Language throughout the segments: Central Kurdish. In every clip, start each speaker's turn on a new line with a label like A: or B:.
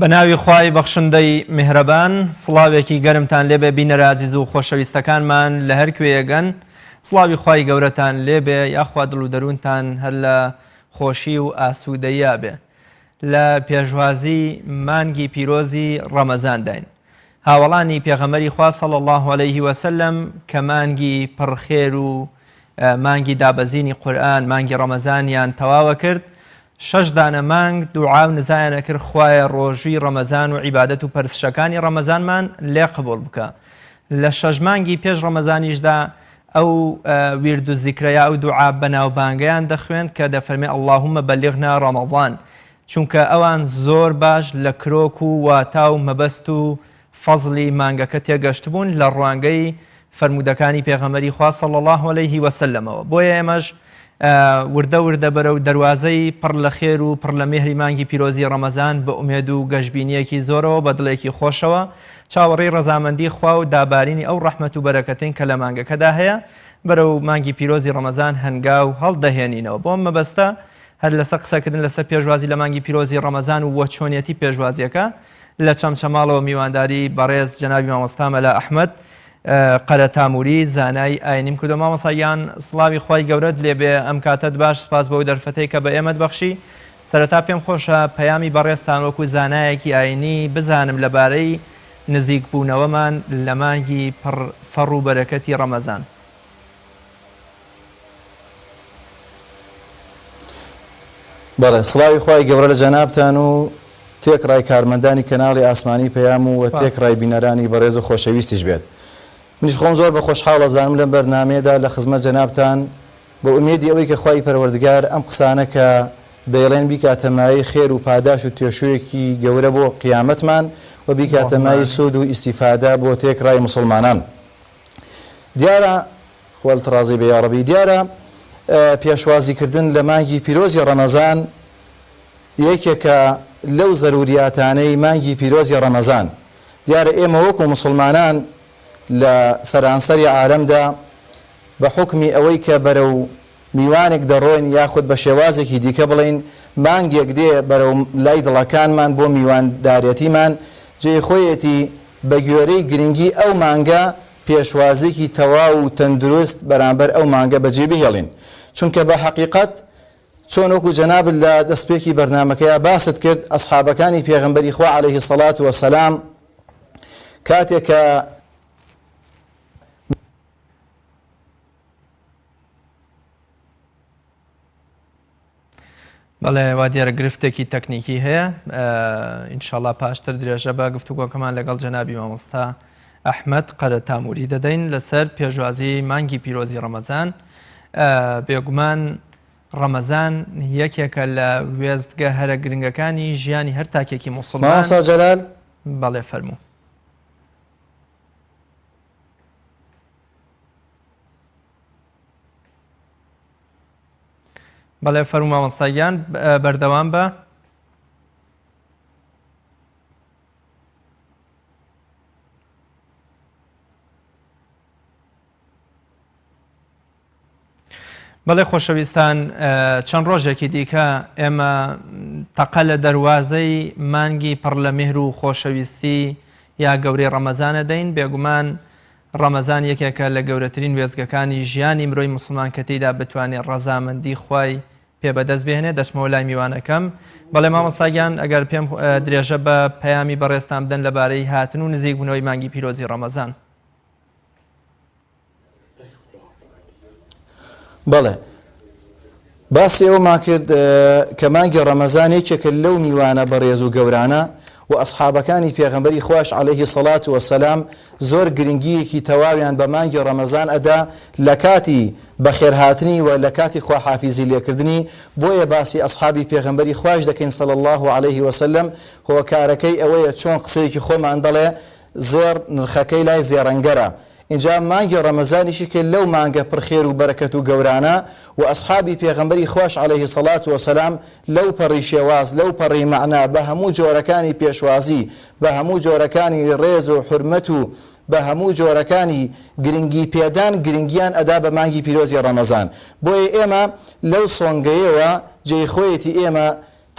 A: بە ناوی خوای بەخشندەی میهرەبان سڵاوێکی گەرمتان لێبێ بینە رازیز و خۆشەویستەکانمان لە هەر کوێیەگەن سڵاوی خوای گەورەتان لێبێ یاخوا دڵ و دەروونتان هەر لە خۆشی و ئاسوودەیە بێ لە پێشوازی مانگی پیرۆزی ڕەمەزانداین هاوەڵانی پێغەمبەری خوا صلی اللە علیه وسلم کە مانگی پڕ خێر و مانگی دابەزینی قورئان مانگی ڕەمەزانیان تەواوە کرد شەش دانە مانگ دوعا و نزایانە کرد خوایە ڕۆژووی ڕەمەزان و عیبادەت و پەرسشەکانی ڕەمەزانمان لێ قبول بکە لە شەش مانگی پێش ڕەمەزانیشدا ئەو ویرد و زیکرەیە ئەو دوعا بەناوبانگەیان دەخوێند کە دەفەرمێ اللهم بلغنا رمضان چونکە ئەوان زۆر باش لە کرۆک و واتا و مەبەست و فەزڵی مانگەکە تێگەشتبوون لە ڕوانگەی فەرموودەکانی پێغەمبەری خوا صلی اللە علیه وسلمەوە بۆیە ئێمەش وردە وردە بەرەو دەروازەی پڕ لە خێر و پڕ لە مێهری مانگی پیرۆزی ڕەمەزان بە ئومێد و گەشبینییەکی زۆرەوە بە دڵێکی خۆشەوە چاوەڕێی ڕەزامەندی خوا و دابارینی ئەو ڕەحمەت و بەرەکەتەین کە لە مانگەکەدا هەیە بەرەو مانگی پیرۆزی ڕەمەزان هەنگاو هەڵدەهێنینەوە بۆم مەبەستە هەر لەسەر قسەکردن لەسەر پێشوازی لە مانگی پیرۆزی ڕەمەزان و وە چۆنیەتی پێشوازیەکە لە چەمچەماڵەوە میوانداری بەڕێز جەنابی مامۆستا مەلا ئەحمەد قەرەتاموری زانای ئاینیم کردو مامۆسا گیان سڵاوی خوای گەورەت لێبێ ئەم کاتەت باش سپاس بەو دەرفەتەی کە بە ئێمەت بەخشی سەرەتا پێم خۆشە پەیامی بەڕێزتان وەکو زانایەکی ئاینی بزانم لەبارەی نزیکبوونەوەمان لە مانگی پڕ فەڕ و بەرەکەتی ڕەمەزان.
B: بەڵێ سڵاوی خوای گەورە لە جەنابتان و تێکڕای کارمەندانی کەناڵی ئاسمانی پەیام و وە تێکڕای بینەرانی بەڕێز و خۆشەویستیش بێت منیش خۆم زۆر بە خۆشحاڵ ئەزانم لەم بەرنامەیەدا لە خزمەت جەنابتان بە ئومێدی ئەوەی کە خوای پەروەردگار ئەم قسانە کە دەیڵێن بیکاتە مایەی خێر و پاداش و توێشوویەکی گەورە بۆ قیامەتمان و بیکاتە مایەی سوود و ئیستیفادە بۆ تێکڕای موسڵمانان دیارە خوا لت ڕازی بێ یاڕەبی. دیارە پێشوازی کردن لە مانگی پیرۆزی ڕەمەزان یەکێکە لەو زەروریاتانەی مانگی پیرۆزی ڕەمەزان دیارە ئێمە وەکو موسڵمانان لە سەرانسەری عالەمدا بە حوکمی ئەوەی کە بەرەو میوانێک دەڕۆین یاخود بە شێوازێکی دیکە بڵێین مانگێک دێ بەرەو لای دڵەکانمان بۆ میواندارێتیمان جێی خۆیەتی بە گوێرەی گرنگی ئەو مانگە پێشوازیەکی تەواو و تەندروست بەرامبەر ئەو مانگە بەجێ بهێڵین چونکە بە حەقیقەت چۆن وەکو جەنابت لە دەستپێکی بەرنامەکەیا باست کرد ئەسحابەکانی پێغەمبەری خوا عەلەیه سەڵات وە سەلام کاتێک کە
A: بەڵێ وا دیارە گرفتێکی تەکنیکی هەیە ئینشاءاللە پاشتر درێژە بە گفتوگۆکەمان لەگەڵ جەنابی مامۆستا ئەحمەد قەرە تاموری دەدەین لەسەر پێشوازی مانگی پیرۆزی ڕەمەزان بێگومان ڕەمەزان یەکێکە لە وێستگە هەرە گرنگەکانی ژیانی هەر تاکێکی مسلمان جەلال
B: بەڵێ فەرموو
A: بەڵێ فەرموو مامۆستا گیان بەردەوام بە بەڵێ خۆشەویستان چەند ڕۆژێکی دیکە ئێمە تەقە لە دەواازەی مانگی پڕ لە میهر و خۆشەویستی یا گەورەی ڕەمەزانە دەین بێگومان ڕەمەزان یەکێکە لە گەورەترین وێستگەکانی ژیانی مرۆی موسڵمان کە تێیدا بتوانێ ڕەزامەندی خوای پێ بەدەست بێنێ دەچمەوە لای میوانەکەم بەڵێ مامۆستا گیان ئەگەر پێم درێژە بە پەیامی بەڕێزتان بدەن لەبارەی هاتن و نزیک بوونەوەی مانگی پیرۆزی ڕەمەزان
B: بەڵێ. باسی ئەوەمان کرد کە مانگی ڕەمەزان یەکێکە لەو میوانە بەڕێز و گەورانە و ئەسحابەکانی پێغەمبەری خواش عەلەیهی سەڵات وەسەلام زۆر گرنگییەکی تەواویان بە مانگی ڕەمەزان ئەدا لە کاتی بەخێرهاتنی و لە کاتی خواحافیزی لێکردنی بۆیە باسی ئەسحابی پێغەمبەری خواش دەکەین صلی اللە علیه وسلم هۆکارەکەی ئەوەیە چۆن قسەیەکی خۆمان دەڵێ زێڕ نرخەکەی لای زێڕەنگەرە ئینجا مانگی ڕەمەزانیشی کە لەو مانگە پڕ خێر و بەرەکەت و گەورانە و ئەسحابی پێغەمبەری خواش علیە الصلوە و السلام لەو پەڕی شێواز لەو پەڕی مەعنا بە هەموو جۆرەکانی پێشوازی بە هەموو جۆرەکانی ڕێز و حورمەت و بە هەموو جۆرەکانی گرنگی پێدان گرنگیان ئەدا بە مانگی پیرۆزی ڕەمەزان بۆیە ئێمە لەو سۆنگەیەوە جێی خۆیەتی ئێمە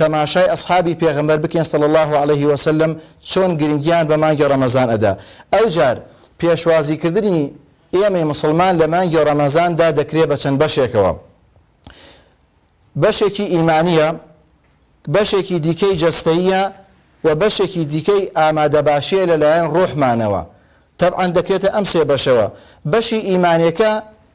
B: تەماشای ئەسحابی پێغەمبەر بکەین صلی اللە علیە وسلم چۆن گرنگیان بە مانگی ڕەمەزان ئەدا ئەوجار پێشوازی کردنی ئێمەی موسڵمان لە مانگی ڕەمەزاندا دەکرێ بە چەند بەشێکەوە بەشێکی ئیمانیە بەشێکی دیکەی جەستەیە و بەشێکی دیکەی ئامادە باشیە لەلایەن ڕۆحمانەوە تەبعاان دەکرێتە ئەم سێ بەشەوە بەشی ئیمانەکە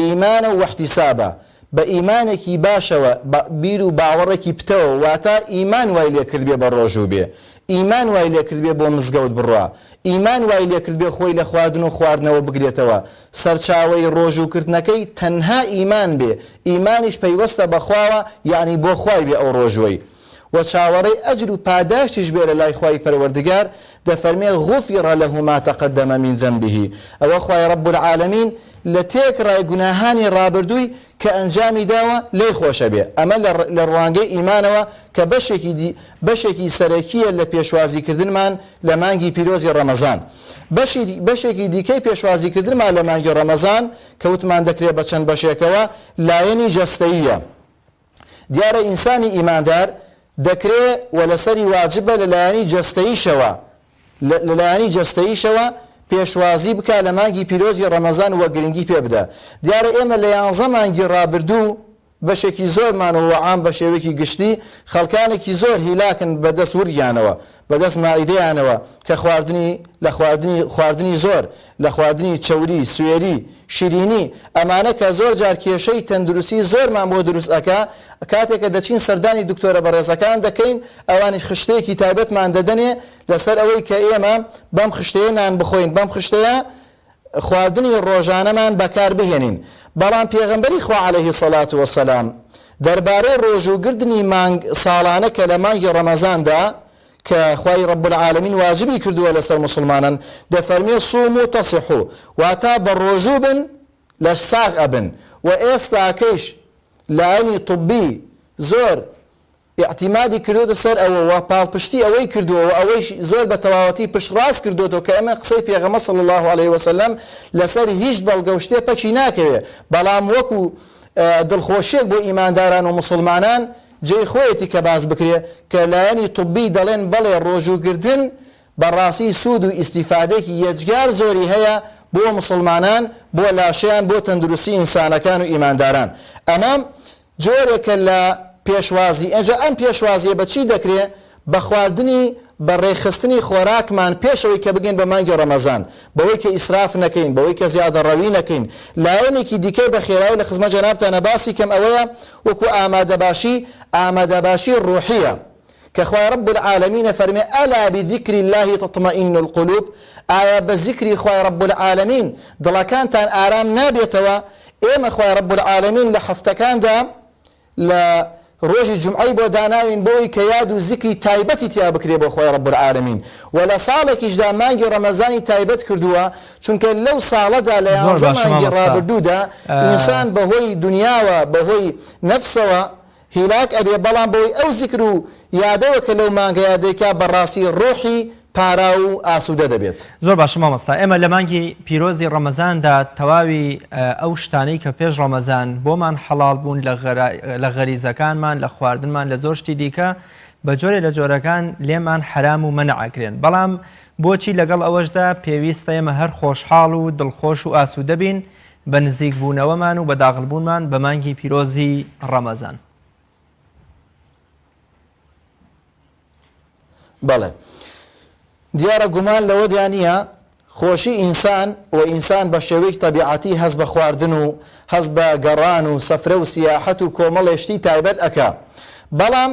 B: ئیمانە واحتیسابە، بە ئیمانێکی باشەوە بە بیر و باوەڕێکی پتەوە واتا ئیمان وای لێکردبێ بە ڕۆژوو بێ، ئیمان وای لێکردبێ بۆ مزگەوت بڕوا، ئیمان وای لێکردبێ خۆی لە خواردن و خواردنەوە بگرێتەوە، سەرچاوەی ڕۆژوو کردنەکەی تەنها ئیمان بێ، ئیمانیش پەیوەستە بە خواوە یەعنی بۆ خوای بێ ئەو ڕۆژووەی. وە چاوەڕێی ئەجر و پاداشتیش بێ لەلای خوای پەروەردگار، دەفەرمێ، غفر له ما تقدم من ذنبه، ئەوە خوای رب العالمین لە تێکڕای گوناهانی رابردووی کە ئەنجامی داوە لێی خۆشە بێ، ئەمە لە ڕوانگەی ئیمانەوە کە بەشێکی دی بەشێکی سەرەکییە لە پێشوازی کردنمان لە مانگی پیرۆزی ڕەمەزان. بەشی بەشێکی دیکەی پێشوازی کردنمان لە مانگی ڕەمەزان کە وتمان دەکرێ بە چەند بەشێکەوە لایەنی جەستەییە، دیارە ئینسانی ئیماندار دەکرێ و لەسەری واجبە لە لایەنی جەستەییشەوە لە لایەنی جەستەییشەوە پێشوازی بکا لە مانگی پیرۆزی ڕەمەزان و گرنگی پێ بدا دیارە ئێمە لە یانزە مانگی ڕابردوو بەشێکی زۆرمان و عام بە شێوەیەکی گشتی خەڵکانێکی زۆر هیلاکن بە دەست ورگیانەوە بەدەست مائیدەیانەوە کە خواردنی لە خواردنی خواردنی زۆر، لە خواردنی چەوری، سوێری، شیرینی، ئەمانە کە زۆر جار کێشەی تەندروستی زۆرمان بۆ دروست ئەکا، کاتێ کە دەچین سەردانی دکتۆرە بەڕێزەکان دەکەین ئەوانیش خشتەیەکی تایبەتمان دەدەنێ لەسەر ئەوەی کە ئێمە بەم خشتەیە نان بخۆین بەم خشتەیە خواردنی ڕۆژانەمان بەکار بهێنین، بەڵام پێغەمبەری خوا علیە صلوە و سلام دەربارەی ڕۆژوو گردنی مانگ ساڵانە کە لە مانگی ڕەمەزاندا کە خوای رب العالمین واجبی کردووە لەسەر موسڵمانان دەفەرمێ صوموا تصحوا واتا بە ڕۆژوو بن لەش ساغ ئەبن وە ئێستاکەیش لایەنی طبی زۆر ئیعتیمادی کردۆتە سەر ئەوە و پاڵپشتی ئەوەی کردووە و ئەوەیش زۆر بە تەواوەتی پشت ڕاست کردۆتەوە کە ئەمە قسەی پێغەمبەر صلی اللە علیە وسلم لەسەر هیچ بەڵگە و شتێ پەکی ناکەوێ بەڵام وەکو دڵخۆشیەک بۆ ئیمانداران و موسڵمانان جێی خۆیەتی کە باس بکرێ کە لایەنی طبی دەڵێن بەڵێ ڕۆژوو گرتن بە ڕاستی سوود و ئیستیفادەیەکی یەجگار زۆری هەیە بۆ موسڵمانان بۆ لاشەیان بۆ تەندروستی ئینسانەکان و ئیمانداران ئەمە جۆرێکە لە پێشوازی، ئێجا ئەم پێشوازیە بە چی دەکرێ؟ بە خواردنی بە ڕێکخستنی خۆراکمان پێش ئەوەی کە بگەین بە مانگی ڕەمەزان، بەوەی کە ئیسراف نەکەین، بەوەی کە زیادەڕەوی نەکەین، لایەنێکی دیکەی بە خێرایی لە خزمەت جەنابتانا باسی کەم ئەوەیە وەکو ئامادەباشی، ئامادەباشی ڕوحیە، کە خوای رب العالمین ئەفەرمێ، الا بذکر اللە تطمئن القلوب، ئایا بە زیکری خوای رب العالمین دڵەکانتان ئارام نابێتەوە، ئێمە خوای رب العالمین لە هەفتەکاندا لە رۆژی جومعەی بۆ داناوین بەوەی کە یاد و زیکری تایبەتی تیا بکرێ بۆ خوای رب العالمین وە لە ساڵێکیشدا مانگی رەمەزانی تایبەت کردووە چونکە لەو ساڵەدا لە یانزە مانگی رابردوودا ئینسان بەهۆی دونیاوە بەهۆی نەفسەوە هیلاک ئەبێ بەڵام بەوەی ئەو زیکر و یادەوە کە لەو مانگەیا دەیکا بەڕاستی ڕوحی پاراو و ئاسودە دەبێت. زۆر باشە مامۆستا
A: ئێمە لە مانگی پیرۆزی ڕەمەزاندا تەواوی ئەو شتانەی کە پێش ڕەمەزان بۆمان حەڵاڵ بوون لە غەریزەکانمان لە خواردنمان لە زۆر شتی دیکە بە جۆرێ لە جۆرەکان لێمان حەرام و مەنع ئەکرێن بەڵام بۆچی لەگەڵ ئەوەشدا پێویستە ئێمە هەر خۆشحاڵ و دڵخۆش و ئاسودە بین بە نزیک بوونەوەمان و بە داغڵ بوونمان بە مانگی پیرۆزی ڕەمەزان.
B: بەڵێ دیارە گومان لەوەدا نییە خۆشی ئینسان و ئینسان بە شێوەیەک تەبیعەتی هەست بە خواردن و هەست بە گەڕان و سەفرە و سیاحەت و کۆمەڵێ شتی تایبەت ئەکا بەڵام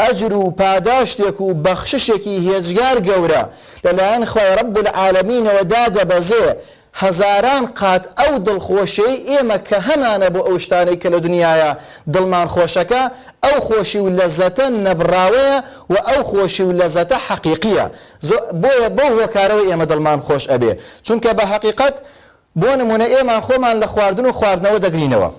B: ئەجر و پاداشتێک و بەخششێکی هێجگار گەورە لەلایەن خوای رب العالمینەوە دادەبەزێ، هەزاران قات ئەو دڵخۆشیەی ئێمە کە هەمانە بۆ ئەو شتانەی کە لە دنیایە دڵمان خۆشەکە، ئەو خۆشی و لەزەتە نەبڕاوەیە و ئەو خۆشی و لەزەتە حەقیقیە، بۆیە بەو هۆکارەوە ئێمە دڵمان خۆش ئەبێ، چونکە بە هەقیقەت بۆ نمونە ئێمان خۆمان لە خواردن و خواردنەوە دەگرینەوە،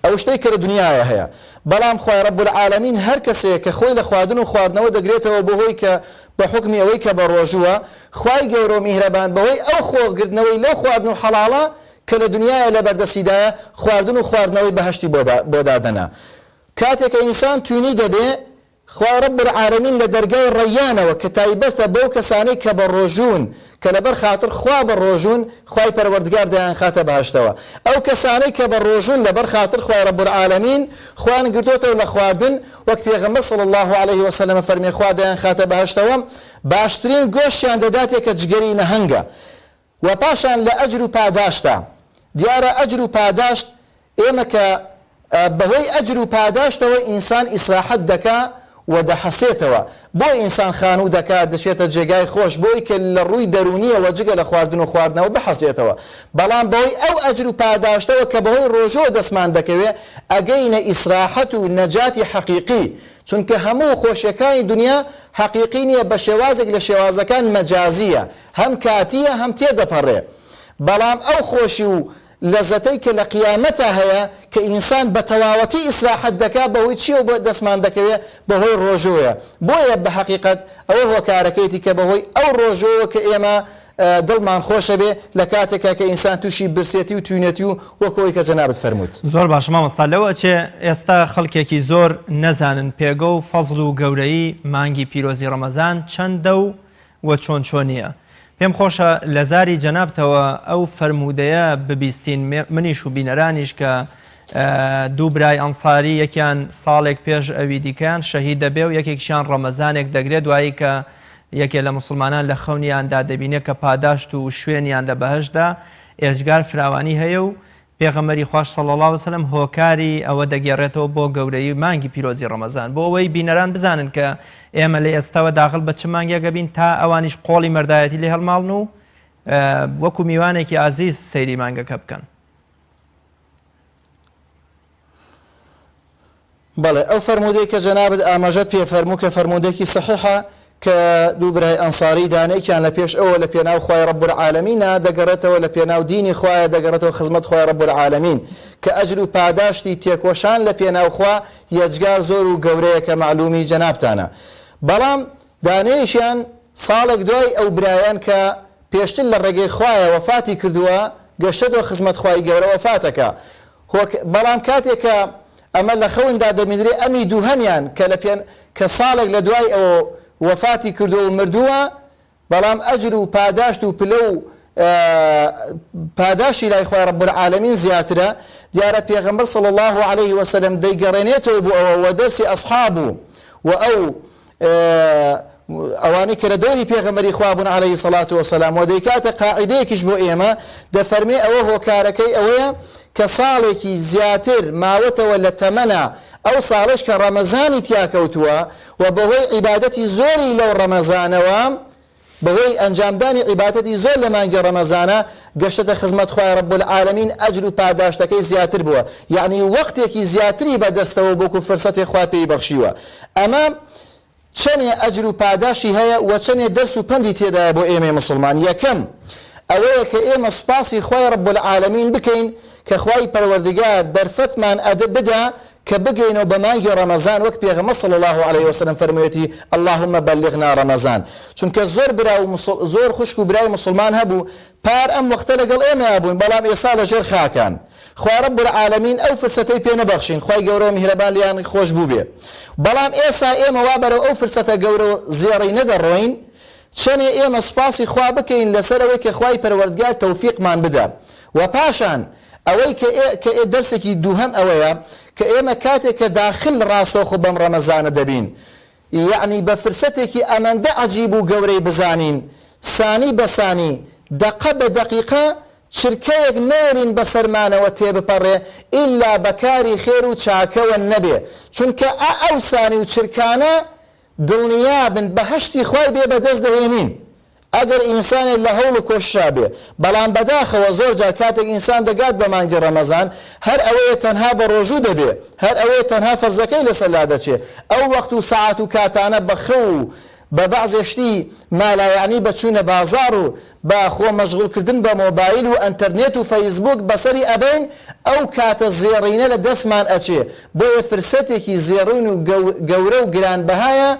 B: ئەو شتەی کە لە دنیایا هەیە. بەڵام خوای رب العالمین هەر کەسێک کە خۆی لە خواردن و خواردنەوە دەگرێتەوە بۆ هۆی کە بە حوکمی ئەوەی کە بە رۆژووە، خوای گەورە و میهرەبان بە هۆی ئەو خۆ گرتنەوەی لەو خواردن و حەڵاڵە کە لە دنیایا لە بەردەستیدایە خواردن و خواردنەوەی بەهەشتی بۆ دادەنا. کاتێ کە ئینسان توینی دەبێ خوای رب العالمین لە دەرگای ڕەیانەوە کە تایبەتە بەو کەسانەی کە بە ڕۆژوون کە لەبەر خاتر خوا بە ڕۆژوون خوای پەروەردگار دەیانخاتە بەهەشتەوە ئەو کەسانەی کە بە ڕۆژوون لەبەر خاتر خوای رب العالمین خۆیان گرتۆتەوە لە خواردن وەک پێغەمبەر صلی اللە علیه وسلم فەرمی خوا دەیانخاتە بەهەشتەوە باشترین گۆشتیان دەداتێ کە جگەری نەهەنگە وە پاشان لە ئەجر و پاداشتا دیارە ئەجر و پاداشت ئێمە کە بەهۆی ئەجر و پاداشتەوە ئینسان ئیسراحەت دەکا و دەحەسێتەوە بۆ ئینسان خانوو دەکات دەچێتە جێگای خۆش بۆی کە لە ڕووی دەروونیەوە جگە لە خواردن و خواردنەوە بحەسێتەوە بەڵام بەهۆی ئەو ئەجر و پاداشتەوە کە بەهۆی ڕۆژووە دەستمان دەکەوێ ئەگەینە ئیسراحەت و نەجاتی حەقیقی چونکە هەموو خۆشیەکانی دنیا حەقیقی نیە بە شێوازێک لە شێوازەکان مەجازیە هەم کاتییە هەم تێدەپەڕێ، بەڵام ئەو خۆشی و لەزەتەی کە لە قیامەتا هەیە کە ئینسان بە تەواوەتی ئیسراحەت دەکا بەهۆی چییەو بە دەستمان دەکەوێ بەهۆی ڕۆژۆیە بۆیە بە هەقیقەت ئەوە هۆکارەکەیەتی کە بەهۆی ئەو ڕۆژۆوە کە ئێمە دڵمان خۆش ئەبێ لە کاتێکا کە ئینسان تووشی برسێتی و توینەتی و وەکو ئەوەی کە جەنابت فەرمووت. زۆر باشە مامۆستا
A: لەو ئەچێ ئێستا خەڵکێکی زۆر نەزانن پێگە و فەزڵ و گەورەیی مانگی پیرۆزی ڕەمەزان چەندە و و چۆن چۆنیە. پێم خۆشە لە زاری جەنابتەوە ئەو فەرموودەیە ببیستین منیش و بینەرانیش کە دوو برای ئەنساری یەکیان ساڵێک پێش ئەوی دیکەیان شەهید دەبێ و یەکێکشیان ڕەمەزانێک دەگرێ دوایی کە یەکێ لە موسڵمانان لە خەونیاندا دەبینێ کە پاداشت و شوێنیان لە بەهەشتدا ئێجگار فراوانی هەیە و پێغەمبەری خواش صلی اللە وسلم هۆکاری ئەوە دەگێڕێتەوە بۆ گەورەیی مانگی پیرۆزی ڕەمەزان بۆ ئەوەی بینەران بزانن کە ئێمە لە ئێستاوە داخل بە چ مانگێک ئەبین تا ئەوانیش قۆڵی مەردایەتی لێ هەڵماڵن و وەکو میوانێکی ئازیز سەیری مانگەکە بکەن.
B: بەڵێ ئەو فەرموودەی کە جەنابت ئاماژەت پێ فەرموو کە فەرموودەیەکی سەحیحە کە دوو برای ئەنساری دانێکیان لە پێش ئەوە لە پێناو خوای رب العالمینە دەگەڕێتەوە لە پێناو دینی خوایە دەگەڕێتەوە خزمەت خوای رب العالمین کە ئەجر و پاداشتی تێکۆشان لە پێناو خوا یەجگا زۆر و گەورەیە کە مەعلومی جەنابتانە بەڵام دانێیشیان ساڵێک دوای ئەو برایان کە پێشتر لە ڕێگەی خوایە وەفاتی کردووە گەشتەتەوە خزمەت خوای گەورە وەفاتەکا هۆک، بەڵام کاتێک کە ئەمە لە خەوندا دەبینرێ ئەمی دووهەمیان کە لە پێن کە ساڵێک لە دوای ئەوە وەفاتی کردووە و مردووە بەڵام ئەجر و پاداشت و پلە و پاداشتی لای خوای رب العالمین زیاترە دیارە پێغەمبەر صلی اللە علیه وسلم دەیگەڕێنێتەوە بۆ ئەوە وە دەرسی ئەصحاب و وە ئەو ئەوانەی کە لە دەوری پێغەمبەری خوا بوون عەلەیهی سەڵات وەسەلام و دەیکاتە قاعیدەیەکیش بۆ ئێمە دەفەرمێ ئەوە هۆکارەکەی ئەوەیە کە ساڵێکی زیاتر ماوەتەوە لە تەمەنا ئەو ساڵش کە ڕەمەزانی تیاکەوتووە و بەهۆی عیبادەتی زۆری لەو ڕەمەزانەوە بەهۆی ئەنجامدانی عیباتەتی زۆر لە مانگی ڕەمەزانە گەشتەتە خزمەت خوای رب العالمین ئەجر و پاداشتەکەی زیاتر بووە یەعنی وەقتێکی زیاتری بەدەستەوە بۆکو فرسەتێ خوا پێی بەخشیوە ئەمە چەنێ ئەجر و پاداشی هەیە وە چەنێ دەرس و پەندی تێدایە بۆ ئێمەی موسڵمان یەکەم ئەوەیە کە ئێمە سوپاسی خوای رب العالمین بکەین کە خوای پەروەردگار دەرفەتمان ئەد بدا کە بگەینەوە بە مانگی ڕەمەزان وەک پێغەمبەر صلی اللە علیە وسلم فەرموویەتی، اللهم بلغنا رمضان، چونکە زۆر برا و زۆر خوشک و برای موسڵمان هەبوو پار ئەم وەختە لەگەڵ ئێمەیا بوون بەڵام ئێستا لە ژێر خاکان خوا رب العالمین ئەو فرسەتەی پێ نەبەخشین خوای گەورە میهرەبان لێیان خۆش بووبێ بەڵام ئێسا ئێمە وا بەرەو ئەو فرسەتە گەورە و زێڕینە دەڕۆین چەنێ ئێمە سوپاسی خوا بکەین لەسەر ئەوەی کە خوای پەروەردگار تەوفیقمان بدا وە پاشان ئەوەی کە ئێ کە ئێ دەرسێکی دووهەم ئەوەیە کە ئێمە کاتێ کە داخل ڕاستەوخۆ بەم ڕەمەزانە دەبین یەعنی بە فرسەتێکی ئەمەندە عەجیب و گەورەی بزانین سانی بە سانی دەقە بە دەقیقە چرکەیەک نەیەلین بە سەرمانەوە تێ بپەڕێ ئیلا بە کاری خێر و چاکەوە نەبێ چونکە ئە ئەو سانی و چرکانە دڵنیابن بەهەشتی خوای بێ بەدەست دەهێنین ئەگەر ئینسانێک لە هەوڵ و کۆششا بێ، بەڵام بەداخەوە زۆر جار کاتێک ئینسان دەگات بە مانگی ڕەمەزان هەر ئەوەیە تەنها بە ڕۆژوو دەبێ، هەر ئەوەیە تەنها فەرزەکەی لەسەر لادەچێ، ئەو وەقت و سەعات و کاتانە بە خەو و بە بەعزێ شتی مالایەعنی بە چوونە بازاڕ و بە خۆ مەشغوڵ کردن بە مۆبایل و ئەنتەرنێت و فەیسبووک بەسەری ئەبەین، ئەو کاتە زێڕینە لە دەستمان ئەچێ، بۆیە فرسەتێکی زێڕین و گەورە و گرانبەهایە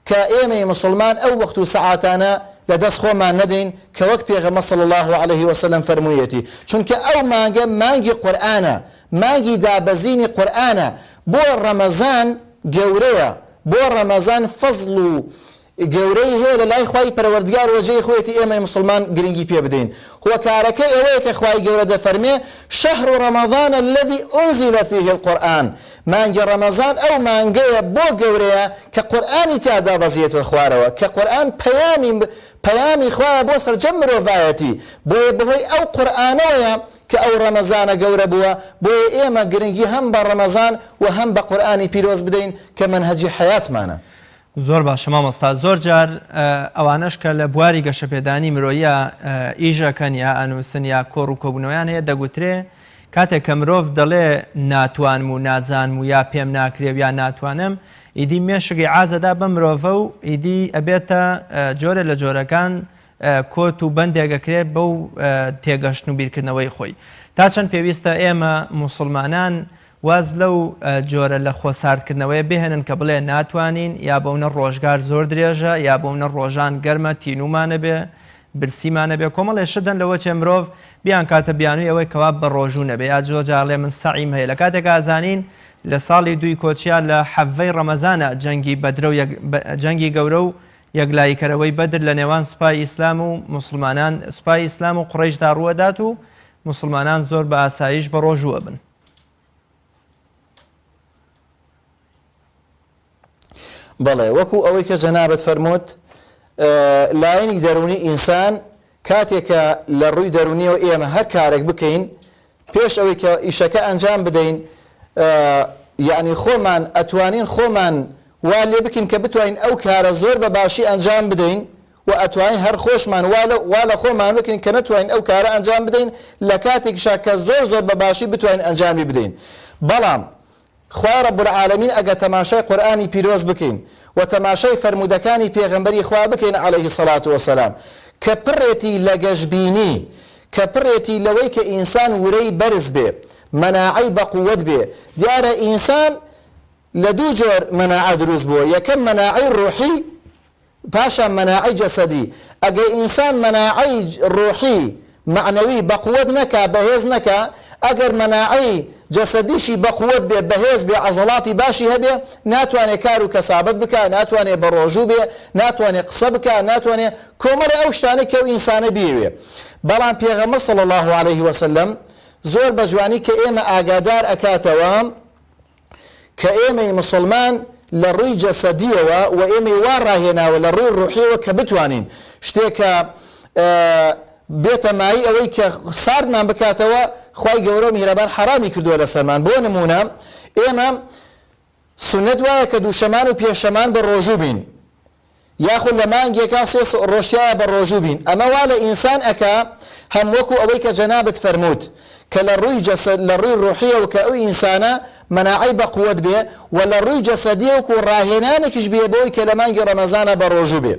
B: کە ئێمەی موسڵمان ئەو وەخت و سەعاتانە لە دەست خۆمان نەدەین کە وەک پێغەمبەر صلی اللە علیە وسلم فەرموویەتی چونکە ئەو مانگە مانگی قورئانە مانگی دابەزینی قورئانە بۆ ڕەمەزان گەورەیە بۆ ڕەمەزان فەزڵ و گەورەی هەیە لە لای خوای پەروەردگار وە جێی خۆیەتی ئێمەی موسڵمان گرنگی پێ بدەین هۆکارەکەی ئەوەیە کە خوای گەورە دەفەرمێ شهر رمضان الذی انزل فیه القرآن مانگی ڕەمەزان ئەو مانگەیە بۆ گەورەیە کە قورئانی تیا دابەزیێتە خوارەوە کە قورئان پەیامی پەیامی خوایە بۆ سەرجەم مرۆڤایەتی بۆیە بەهۆی ئەو قورئانەوەیە کە ئەو ڕەمەزانە گەورە بووە بۆیە ئێمە گرنگی هەم بە ڕەمەزان وە هەم بە قورئانی پیرۆز بدەین کە مەنهەجی حەیاتمانە. زۆر باشە
A: مامۆستا زۆر جار ئەوانەش کە لە بواری گەشەپێدانی مرۆییە ئیش ئەکەن یا ئەنووسن یا کۆڕ و کۆبوونەوەیان هەیە دەگوترێ کاتێک کە مرۆڤ دەڵێ ناتوانم و نازانم و یا پێم ناکرێ و یا ناتوانم ئیدی مێشک ئیعازە دا بەم مرۆڤە و ئیدی ئەبێتە جۆرێ لە جۆرەکان کۆت و بەندێک ئەکرێت بەو تێگەشتن و بیرکردنەوەی خۆی. تا چەند پێویستە ئێمە موسڵمانان واز لەو جۆرە لە خۆ ساردکردنەوەیە بهێنن کە بڵێ ناتوانین، یا بەونە ڕۆژگار زۆر درێژە، یا بەونە ڕۆژان گەرمە تینوومانەبێ، برسیمانەبێ، کۆمەڵێ شت هەن لەوەچێ مرۆڤ بیانکاتە بیانووی ئەوەی کەوا بەڕۆژوو نەبێ، یا زۆر جار ئەڵێ من سەعیم هەیە، لە کاتێک ئازانین لە ساڵی دووی کۆچیا لە حەڤەی ڕەمەزانا جەنگی بەدرە و جەنگی گەورە و یەکلاییکەرەوەی بەدر لە نێوان سوپای ئیسلام و موسڵمانان سوپای ئیسلام و قوڕەیشدا ڕووەدات و موسڵمانان زۆر بە ئاساییش بە ڕۆژوو ئەبن.
B: بەڵێ وەکو ئەوەی کە جەنابت فەرمووت لایەنی دەروونی ئینسان کاتێک کە لە ڕووی دەروونییەوە ئێمە هەر کارێک بکەین پێش ئەوەی کە ئیشەکە ئەنجام بدەین یەعنی خۆمان ئەتوانین خۆمان وا لێ بکەین کە بتوانین ئەو کارە زۆر بە باشی ئەنجام بدەین و ئەتوانین هەر خۆشمان وا لە خۆمان بکەین کە نەتوانین ئەو کارە ئەنجام بدەین لە کاتێکیشا کە زۆر زۆر بە باشی بتوانین ئەنجامی بدەین بەڵام خوای رب العالمین ئەگەر تەماشای قورئانی پیرۆز بکەین و تەماشای فەرموودەکانی پێغەمبەری خوا بکەین علیە الصلوة والسلام کە پڕێتی لە گەشبینی کە پڕێتی لەوەی کە ئینسان ورەی بەرز بێ مەناعەی بەقوەت بێ دیارە ئینسان لە دوو جۆر مەناعە دروست بووە یەکەم مەناعەی روحی پاشان مەناعەی جەسەدی، ئەگەر ئینسان مەناعەی ڕۆحی، مەعنەوی، بەقوەت نەکا، بەهێز نەکا، ئەگەر مەناعەی جەسەدیشی بەقوەت بێ، بەهێز بێ، عەزەڵاتی باشی هەبێ، ناتوانێ کار و کەسابەت بکا، ناتوانێ بەڕۆژوو بێ، ناتوانێ قسە بکا، ناتوانێ کۆمەڵێ ئەو شتانەی کە ئەو ئینسانە بیەوێ. بەڵام پێغەمبەر صلی اللە علیە وسلم زۆر بەجوانی کە ئێمە ئاگادار ئەکاتەوە کە ئێمەی موسڵمان لە ڕووی جەسەدییەوە و ئێمەی وا ڕاهێناوە لە ڕووی ڕوحییەوە کە بتوانین شتێک کە بێتە مایەی ئەوەی کە ساردمان بکاتەوە خوای گەورە و میهرەبان حەڕامی کردووە لەسەرمان بۆ نموونە ئێمە سوننەت وایە کە دووشەمان و پێنجشەمان بە ڕۆژوو بین یاخود لە مانگێکا سێ ڕۆژ تیایا بە ڕۆژوو بین ئەمە وا لە ئینسان ئەکا هەم وەکو ئەوەی کە جەنابت فەرمووت کە لە ڕووی جەسەد لە ڕووی ڕۆحیەوە کە ئەو ئینسانە مەناعەی بە قوەت بێ و لە ڕووی جەسەدیەوک و ڕاهێنانێکیش بێ بۆی کە لە مانگی ڕەمەزانا بە ڕۆژوو بێ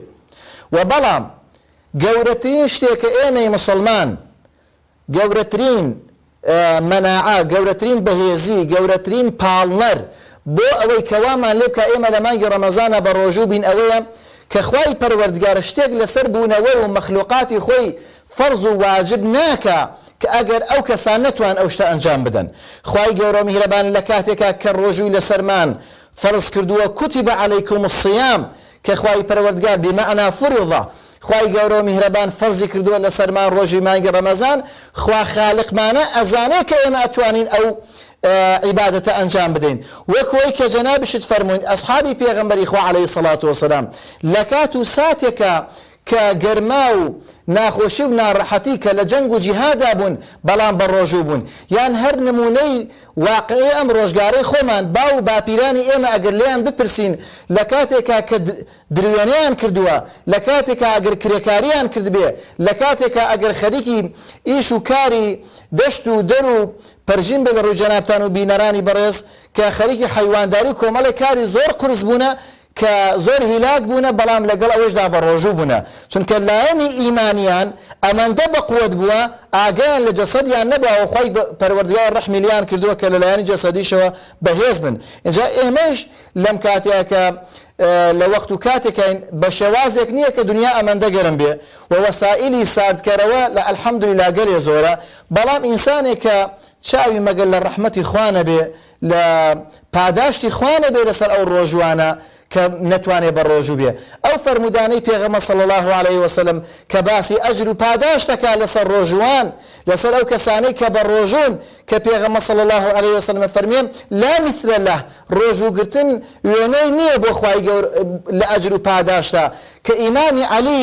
B: و بەڵام گەورەترین شتێ کە ئێمەی مسوڵمان گەورەترین مەناعە، گەورەترین بەهێزی، گەورەترین پاڵنەر بۆ ئەوەی کە وامان لێ بکا ئێمە لە مانگی ڕەمەزانا بە ڕۆژوو بین ئەوەیە کە خوای پەروەردگار شتێک لەسەر بوونەوەر و مەخلوقاتی خۆی فەرز و واجب ناکا کە ئەگەر ئەو کەسان نەتوان ئەو شتە ئەنجام بدەن خوای گەورەو میهرەبان لە کاتێکا کە ڕۆژووی لەسەرمان فەرز کردووە کوتیبە علیکم الصیام کە خوای پەروەردگار بمعنا فرضە خوای گەورەو میهرەبان فەرزی کردووە لەسەرمان ڕۆژی مانگی ڕەمەزان خوا خالقمانە ئەزانێ کە ئێمە ئەتوانین ئەو عیبادەتە ئەنجام بدەین وەک وەی کە جەنابیشت فەرمووین ئەسحابی پێغەمبەری خوا عەلەیهی سەڵات وەسەلام لە کات و ساتێکە کە گەرما و ناخۆشی و ناڕەحەتی کە لە جەنگ و جیهادا بوون بەڵام بە ڕۆژوو بوون یان هەر نمونەی واقعی ئەم ڕۆژگارەی خۆمان، باو و باپیرانی ئێمە ئەگەر لێیان بپرسین لە کاتێکا کە دروێنەیان کردووە، لە کاتێکا ئەگەر کرێکارییان کردبێ، لە کاتێکا ئەگەر خەریکی ئیش و کاری دەشت و دەر و پەرژین بێ لە ڕووی جەنابتان و بینەرانی بەڕێز کە خەریکی حەیوانداری و کۆمەڵێک کاری زۆر قورس بوونە کە زۆر هیلاک بوونە بەڵام لەگەڵ ئەوەیشدا بەڕۆژوو بوونە چونکە لایەنی ئیمانیان ئەمەندە بەقوەت بووە ئاگایان لە جەسەدیان نەبووە و خوای پەروەردگار ڕەحمی لێیان کردووە کە لەلایەنی جەسەدیشەوە بەهێز بن ئینجا ئێمەیش لەم کاتەیا کە لە وەخت و کاتێکین بە شێوازێک نییە کە دنیا ئەمەندە گەرم بێ و وەسائلی ساردکەرەوە لە الحمدللە گەلێ زۆرە بەڵام ئینسانێک کە چاوی مەگەر لە ڕەحمەتی خوا نەبێ لە پاداشتی خوا نەبێ لەسەر ئەو ڕۆژوانە کە نەتوانێ بەڕۆژو بێ ئەو فەرموودانەی پێغەمبەر صلی اللە علیە وسلم کە باسی ئەجر و پاداشت دەکا لەسەر ڕۆژوان لەسەر ئەو کەسانەی کە بەڕۆژون کە پێغەمبەر صلی اللە علیە وسلم ئەفەرموێ لا مثل اللە ڕۆژو گرتن وێنەی نیە بۆ خوای گەورە لە ئەجر و پاداشتا کە ئیمامی علی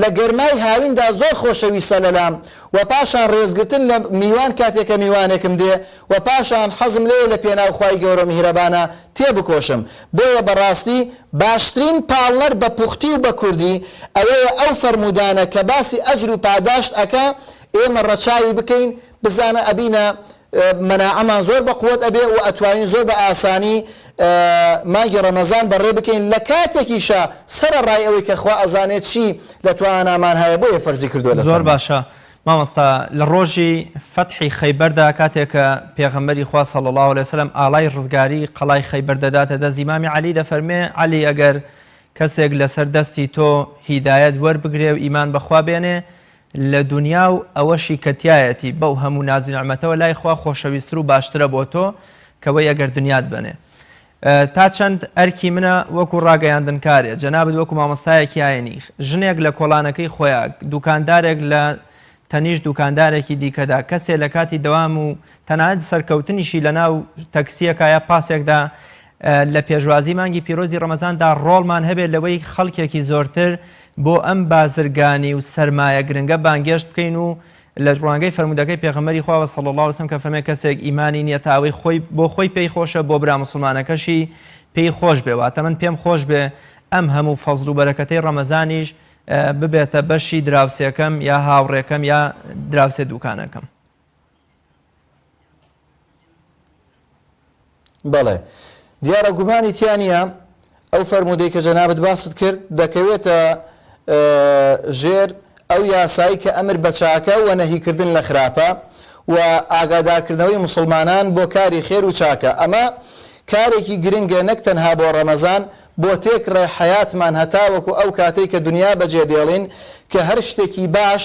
B: لە گەرمای هاویندا زۆر خۆشەویستە لەلام وە پاشان ڕێزگرتن لە میوان کاتێ کە میوانێکم دێ وە پاشان حەزم لێیە لە پێناو خوای گەورەو میهرەبانە تێ بکۆشم بۆیە بەڕاستی باشترین پاڵنەر بە پوختی و بە کوردی ئەوەیە ئەو فەرموودانە کە باسی ئەجر و پاداشت ئەکا ئێمە ڕەچاوی بکەین بزانە ئەبینە مەناعەمان زۆر بەقوەت ئەبێ و ئەتوانین زۆر بە ئاسانی مانگی ڕەمەزان بەڕێ بکەین لە کاتێکیشا سەرە ڕای ئەوەی کە خوا ئەزانێ چی لە توانامان هەیە بۆیە فەرزی کردووە لەسەرمان. زۆر باشە مامۆستا
A: لە ڕۆژی فەتحی خەیبەردا کاتێک کە پێغەمبەری خوا صلی اللە علیە وسلم ئاڵای ڕزگاری قەڵای خەیبەر دەداتە دەست ئیمامی عەلی دەفەرموێ عەلی ئەگەر کەسێک لەسەر دەستی تۆ هیدایەت وەربگرێ و ئیمان بەخوا بێنێ لە دونیا و ئەوەشی کە تیایەتی بەو هەموو ناز و نیعمەتەوە لای خوا خۆشەویستر و باشترە بۆ تۆ کە وەی ئەگەر دونیات بەنێ تا چەند ئەرکی منە وەکو ڕاگەیاندنکارێ جەنابت وەکو مامۆستایەکی ئاینی ژنێک لە کۆڵانەکەی خۆیا دوکاندارێک لە تەنیشت دوکاندارێکی دیکەدا کەسێ لە کاتی دەوام و تەنانەت سەرکەوتنیشی لە ناو تەکسیەکا یا پاسێکدا لە پێشوازی مانگی پیرۆزی ڕەمەزاندا ڕۆڵمان هەبێ لەوەی خەڵکێکی زۆرتر بۆ ئەم بازرگانی و سەرمایە گرنگە بانگێشت بکەین و لە ڕوانگەی فەرموودەکەی پێغەمبەری خوا وە صلی اللە علیە وسلم کە فەرمێ کەسێک ئیمانی نیە تا ئەوەی خۆی بۆ خۆی پێی خۆشە بۆ برا موسڵمانەکەشی پێی خۆش بێ واتە من پێم خۆش بێ ئەم هەموو فەزڵ و بەرەکەتەی ڕەمەزانیش ببێتە بەشی دراوسێکەم یا هاوڕێکەم یا دراوسێ دووکانەکەم.
B: بەڵێ. دیارە گومانی تیا نییە ئەو فەرموودەی کە جەنابت باست کرد دەکەوێتە ژێر ئەو یاسایی کە ئەمر بە چاکە و نەهیکردن لە خراپە و ئاگادارکردنەوەی مسلمانان بۆ کاری خێر و چاکە ئەمە کارێکی گرنگە نەک تەنها بۆ ڕەمەزان بۆ تێک ڕێ حیاتمان هەتاوەکو ئەو کاتێک کە دنیا بەجێ دێڵین کە هەر شتێکی باش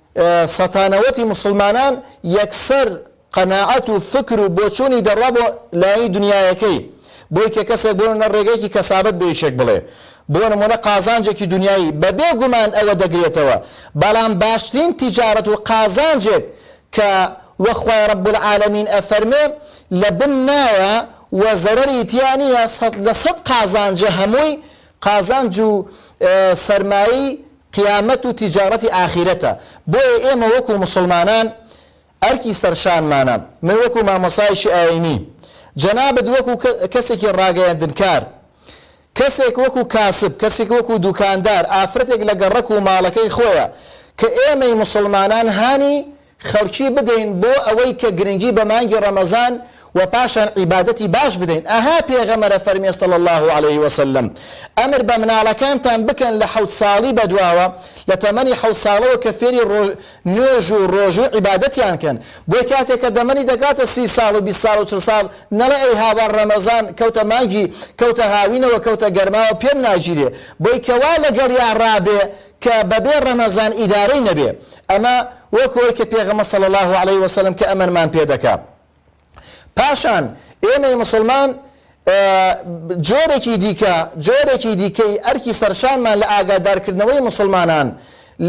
B: سەتانەوەتی موسڵمانان یەکسەر قەناعەت و فکر و بۆچوونی دەڕوا بۆ لایەنی دونیایەکەی، بۆی کە کەسێک بۆ نموونە ڕێگەیەکی کەسابەت بۆ یەکێک بڵێ، بۆ نموونە قازانجێکی دونیایی، بە بێ گومان ئەوە دەگرێتەوە، بەڵام باشترین تیجارەت و قازانجێک کە وەک خوای رب العالمین ئەفەرمێ لە بن نایە و زەرەری تیا نییە، سەد لە سەد قازانجە هەمووی قازانج و سەرمایەی قیامەت و تیجارەتی ئاخیرەتە بۆیە ئێمە وەکو موسڵمانان ئەرکی سەرشانمانە من وەکو مامۆستایەکی ئاینی جەنابت وەکو کەسێکی ڕاگەیەندنکار کەسێک وەکو کاسب کەسێک وەکو دوکاندار ئافرەتێک لە گەڕەک و ماڵەکەی خۆیە کە ئێمەی موسڵمانان هانی خەڵکی بدەین بۆ ئەوەی کە گرنگی بە مانگی ڕەمەزان و پاشان عیبادەتی باش بدەین ئەها پێغەمەرە فەرمیە صلی اللە علیە وسلم ئەمر بە مناڵەکانتان بکەن لە حەوت ساڵی بەدواوە لە تەمەنی حەوت ساڵەوە کە فێری نوێژ و ڕۆژو و عیبادەتیان کەن بۆی کاتێک کە دەمەنی دەگاتە سی ساڵ و بیست ساڵ و چل ساڵ نەڵێ ئەی هاوار ڕەمەزان کەوتە مانگی کەوتە هاوینەوە کەوتە گەرماوە پێم ناگیرێ بۆی کەوا لەگەڵیا ڕابێ کە بەبێ ڕەمەزان ئیدارەی نەبێ ئەمە وەک وەی کە پێغەمە صلی اللە علیە وسلم کە ئەمەنمان پێ دەکا پاشان ئێمەی مسلمان جۆرێکی دیکە جۆرێکی دیکەی ئەرکی سەرشانمان لە ئاگادارکردنەوەی مسلمانان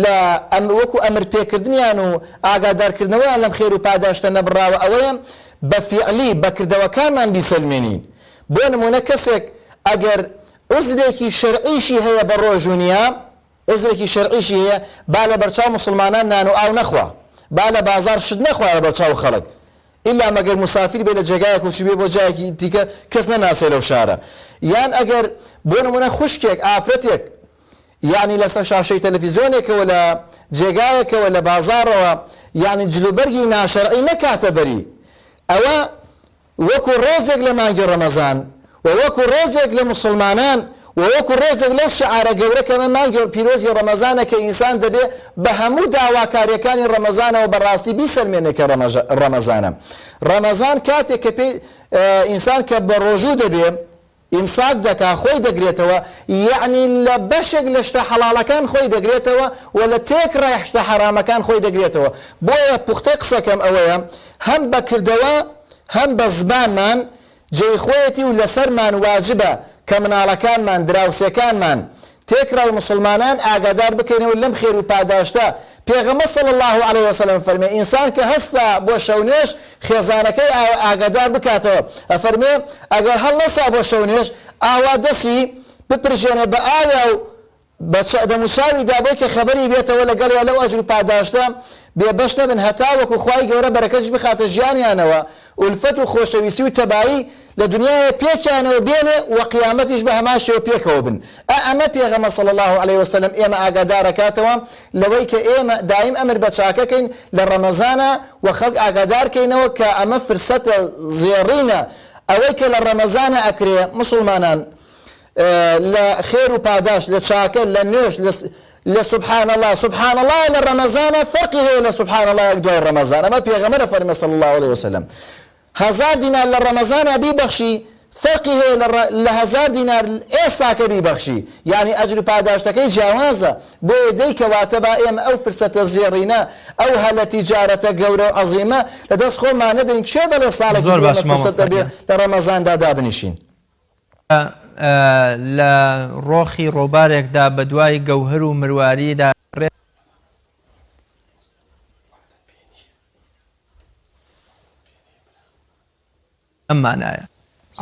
B: لە ئەم وەکو ئەمر پێکردنیان و ئاگادارکردنەوەیان لەم خێر و پاداشتە نەبراوە ئەوەیە بە فیعلی بەکردەوەکانمان بیسەلمێنین بۆ نمونە کەسێک ئەگەر عوزرێکی شەرعیشی هەیە بە ڕۆژو نیە عوزرێکی شەرعیشی هەیە با لە بەرچاو موسڵمانان نانو ئاو نەخوا با لە بازاڕ شت نەخوا لە بەرچاو خەڵک ئیلا مەگەر موسافیر بێ لە جێگایەک و چوبێ بۆ جایەکی دیکە کەس نەناسێ لەو شارە یان ئەگەر بۆ نمونە خوشکێک ئافرەتێک یانی لە سەر شاشەی تەلەفیزۆنێکەوە لە جێگایەکەوە لە بازاڕەوە یانی جلوبەرگی ناشەرعی نەکاتە بەری ئەوە وەکو ڕێزێک لە مانگی ڕەمەزان و وەکو ڕێزێک لە موسڵمانان و وەکو ڕێزێک لەو شێعارە گەورە کە ئەمە مانگی پیرۆزی ڕەمەزانە کە ئینسان دەبێ بە هەموو داواکاریەکانی ڕەمەزانەوە بە ڕاستی بیسەلمێنێ کە ڕەمەزانە. ڕەمەزان کاتێک کە پێی ئینسان کە بەڕۆژوو دەبێ، ئیمساک دەکا خۆی دەگرێتەوە یەعنی لە بەشێک لە شتە حەڵاڵەکان خۆی دەگرێتەوە و لە تێکڕای شتە حەرامەکان خۆی دەگرێتەوە بۆیە پوختەی قسەکەم ئەوەیە هەم بە کردەوە هەم بە زبانمان جێی خۆیەتی و لەسەرمان واجبە کە مناڵەکانمان دراوسێکانمان تێکڕای موسڵمانان ئاگادار بکەینەوە لەم خێر و پاداشتە، پێغەمبەر صلی اللە علیه و سلم فەرمێ، ئینسان کە هەستا بۆ شەونوێژ خێزانەکەی ئاوە ئاگادار بکاتەوە، ئەفەرمێ، ئەگەر هەڵنەسا بۆ شەونوێژ ئاوا دەستی بپرژێنێ بە ئاوێ و بە دەموچاوی دابەی کە خەبەری بێتەوە لەگەڵیا لەو ئەجر و پاداشتە بێ بەش نەبن هەتاوەکو خوای گەورە بەرەکەتیش بخاتە ژیانیانەوە، ئولفەت و خۆشەویستی و تەبایی لە دنیاوە پێکیانەوە بێنێ و قیامەتیش بە هەمان شێوە پێکەوە بن. ئا ئەمە پێغەمبەر صلی اللە علیە و سلم ئێمە ئاگادار ئەکاتەوە لەوەی کە ئێمە دایم ئەمر بە چاکە کەین لە ڕەمەزانا و خەڵک ئاگادار کەینەوە کە ئەمە فرسەتە زێڕینە ئەوەی کە لە ڕەمەزانا ئەکرێ موسڵمانان لە خێر و پاداشت لە چاکە لە نوێژ لە لە سبحان اللە سبحان اللە لە ڕەمەزانا فەرقی هەیە لە سبحان اللە یەک دوای ڕەمەزان ئەمە پێغەمبەر ئەفەرمێ صلی اللە علیە وسلم هەزار دینار لە ڕەمەزانا بیبەخشی فەرقی هەیە لە لە هەزار دینار ئێستاکە بیبەخشی یعنی ئەجر و پاداشتەکەی جیاوازە بۆیە دەی کەواتە با ئێمە ئەو فرسەتە زێڕینە ئەو هەلە تیجارەتە گەورە و عەزیمە لە دەست خۆمان نەدەین کێ دەڵێ ساڵێکی زۆر باش مامۆستا گیان. دەبێ لە ڕەمەزاندا دابنیشین.
A: لە ڕۆخی ڕۆبارێکدا بەدوای گەوهەر و مرواریدا دەگەڕێت، ئەم مانایە.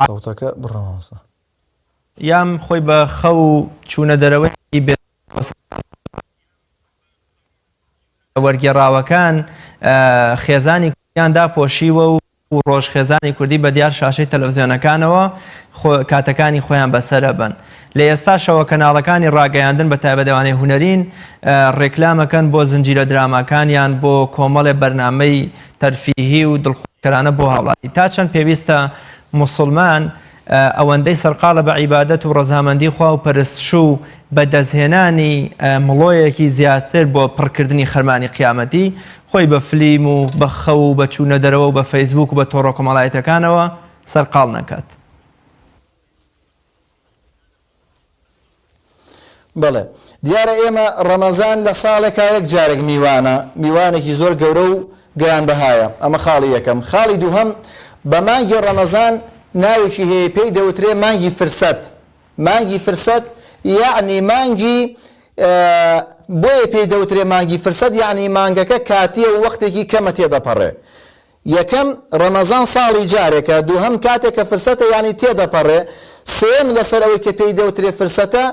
A: سەوتەکە
B: بڕە مامۆستا.
A: یام خۆی بە خەو و چوونە دەرەوەی بێ وەرگێڕاوەکان خێزانی کوردیان داپۆشیوە و و ڕۆژ خێزانی کوردی بە دیار شاشەی تەلەڤزیۆنەکانەوە خۆ کاتەکانی خۆیان بەسەر ئەبەن لە ئێستا شەوە کەناڵەکانی ڕاگەیاندن بە تایبەت ئەوانەی هونەرین ڕێکلام ئەکەن بۆ زنجیرە دراماکانیان بۆ کۆمەڵێ بەرنامەی تەرفیهی و دڵخۆشکەرانە بۆ هاوڵاتی تا چەند پێویستە موسڵمان ئەوەندەی سەرقاڵە بە عیبادەت و ڕەزامەندی خوا و پەرستشو بە دەستهێنانی مڵۆیەکی زیاتر بۆ پڕکردنی خەرمانی قیامەتی خۆی بە فلیم و بە خەو و بە چوونە دەرەوە و بە فەیسبووک و بە تۆڕەکۆمەڵایەتەکانەوە سەرقاڵ نەکات.
B: بەڵێ دیارە ئێمە ڕەمەزان لە ساڵێکا یەک جارێک میوانە، میوانێکی زۆر گەورە و گرانبەهایە، ئەمە خاڵی یەکەم، خاڵی دووهەم بە مانگی ڕەمەزان ناوێکی هەیە پێی دەوترێ مانگی فرسەت، مانگی فرسەت یەعنی مانگی بۆیە پێی دەوترێ مانگی فرسەت یەعنی مانگەکە کاتییە و وەختێکی کەمە تێدەپەڕێ، یەکەم، ڕەمەزان ساڵی جارێکە، دووهەم، کاتێک کە فرسەتە یانی تێدەپەڕێ، سێیەم، لەسەر ئەوەی کە پێی دەوترێ فرسەتە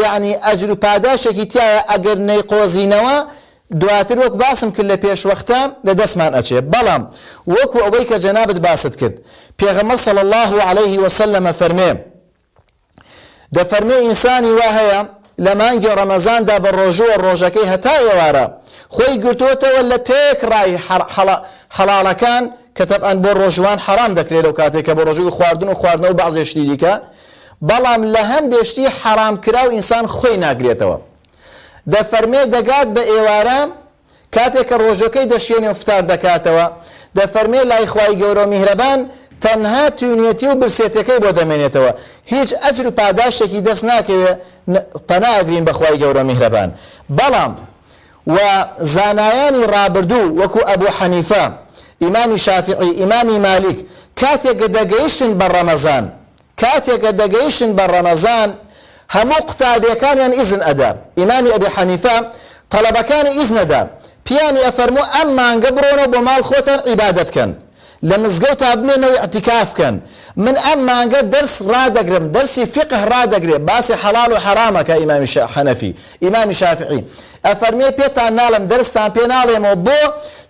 B: یانی ئەجر و پاداشتێکی تیایە ئەگەر نەیقۆزینەوە دواتر وەک باسم کرد لە پێشوەختە لە دەستمان ئەچێ بەڵام وەکو ئەوەی کە جەنابت باست کرد پێغەمبەر صلی اللە علیه وسلم فەرمێ دەفەرمێ ئینسانی وا هەیە لە مانگی ڕەمەزاندا بە ڕۆژووە ڕۆژەکەی هەتا ئێوارە خۆی گرتۆتەوە لە تێک ڕای حەڵاڵەکان کە تەبعەن بۆ ڕۆژوان حەرام دەکرێت لەو کاتێک کە بۆ ڕۆژووی خواردن و خواردنەوە بەعزێ شتی دیکە بەڵام لە هەندێ شتی حەرام کراو ئینسان خۆی ناگرێتەوە دەفەرمێ دەگات بە ئێوارە کاتێ کە ڕۆژەکەی دەشکێنێ و فتار دەکاتەوە، دەفەرمێ لای خوای گەورە و میهرەبان تەنها تینوێتی و برسێتیەکەی بۆ دەمێنێتەوە، هیچ ئەجر و پاداشتێکی دەست ناکەوێ، پەنا ئەگرین بە خوای گەورە و میهرەبان، بەڵام و زانایانی ڕابردوو وەکو ئەبو حەنیفە، ئیمامی شافعی، ئیمامی مالیک، کاتێ گە دەگەیشتن بە ڕەمەزان کاتێ کە دەگەیشتن بە ڕەمەزان هەموو قوتابێکانیان ئیزن ئەدا ئیمامی ئەبی حەنیفە تەڵەبەکانی ئیزن ئەدا پیانی ئەفەرموو ئەم مانگە بڕۆنەوە بۆ ماڵ خۆتان عیبادەت کەن لە مزگەو تا بمێنەوە ئیعتیکاف کەن من ئەم مانگە دەرس ڕادەگرم دەرسی فیقه ڕادەگرێ باسی حەڵاڵ و حەڕامە کە ئیمامی شا حەنەفی ئیمامی شافعی ئەفەرموێ پێتان ناڵێم دەرستان پێ ناڵێمەوە بۆ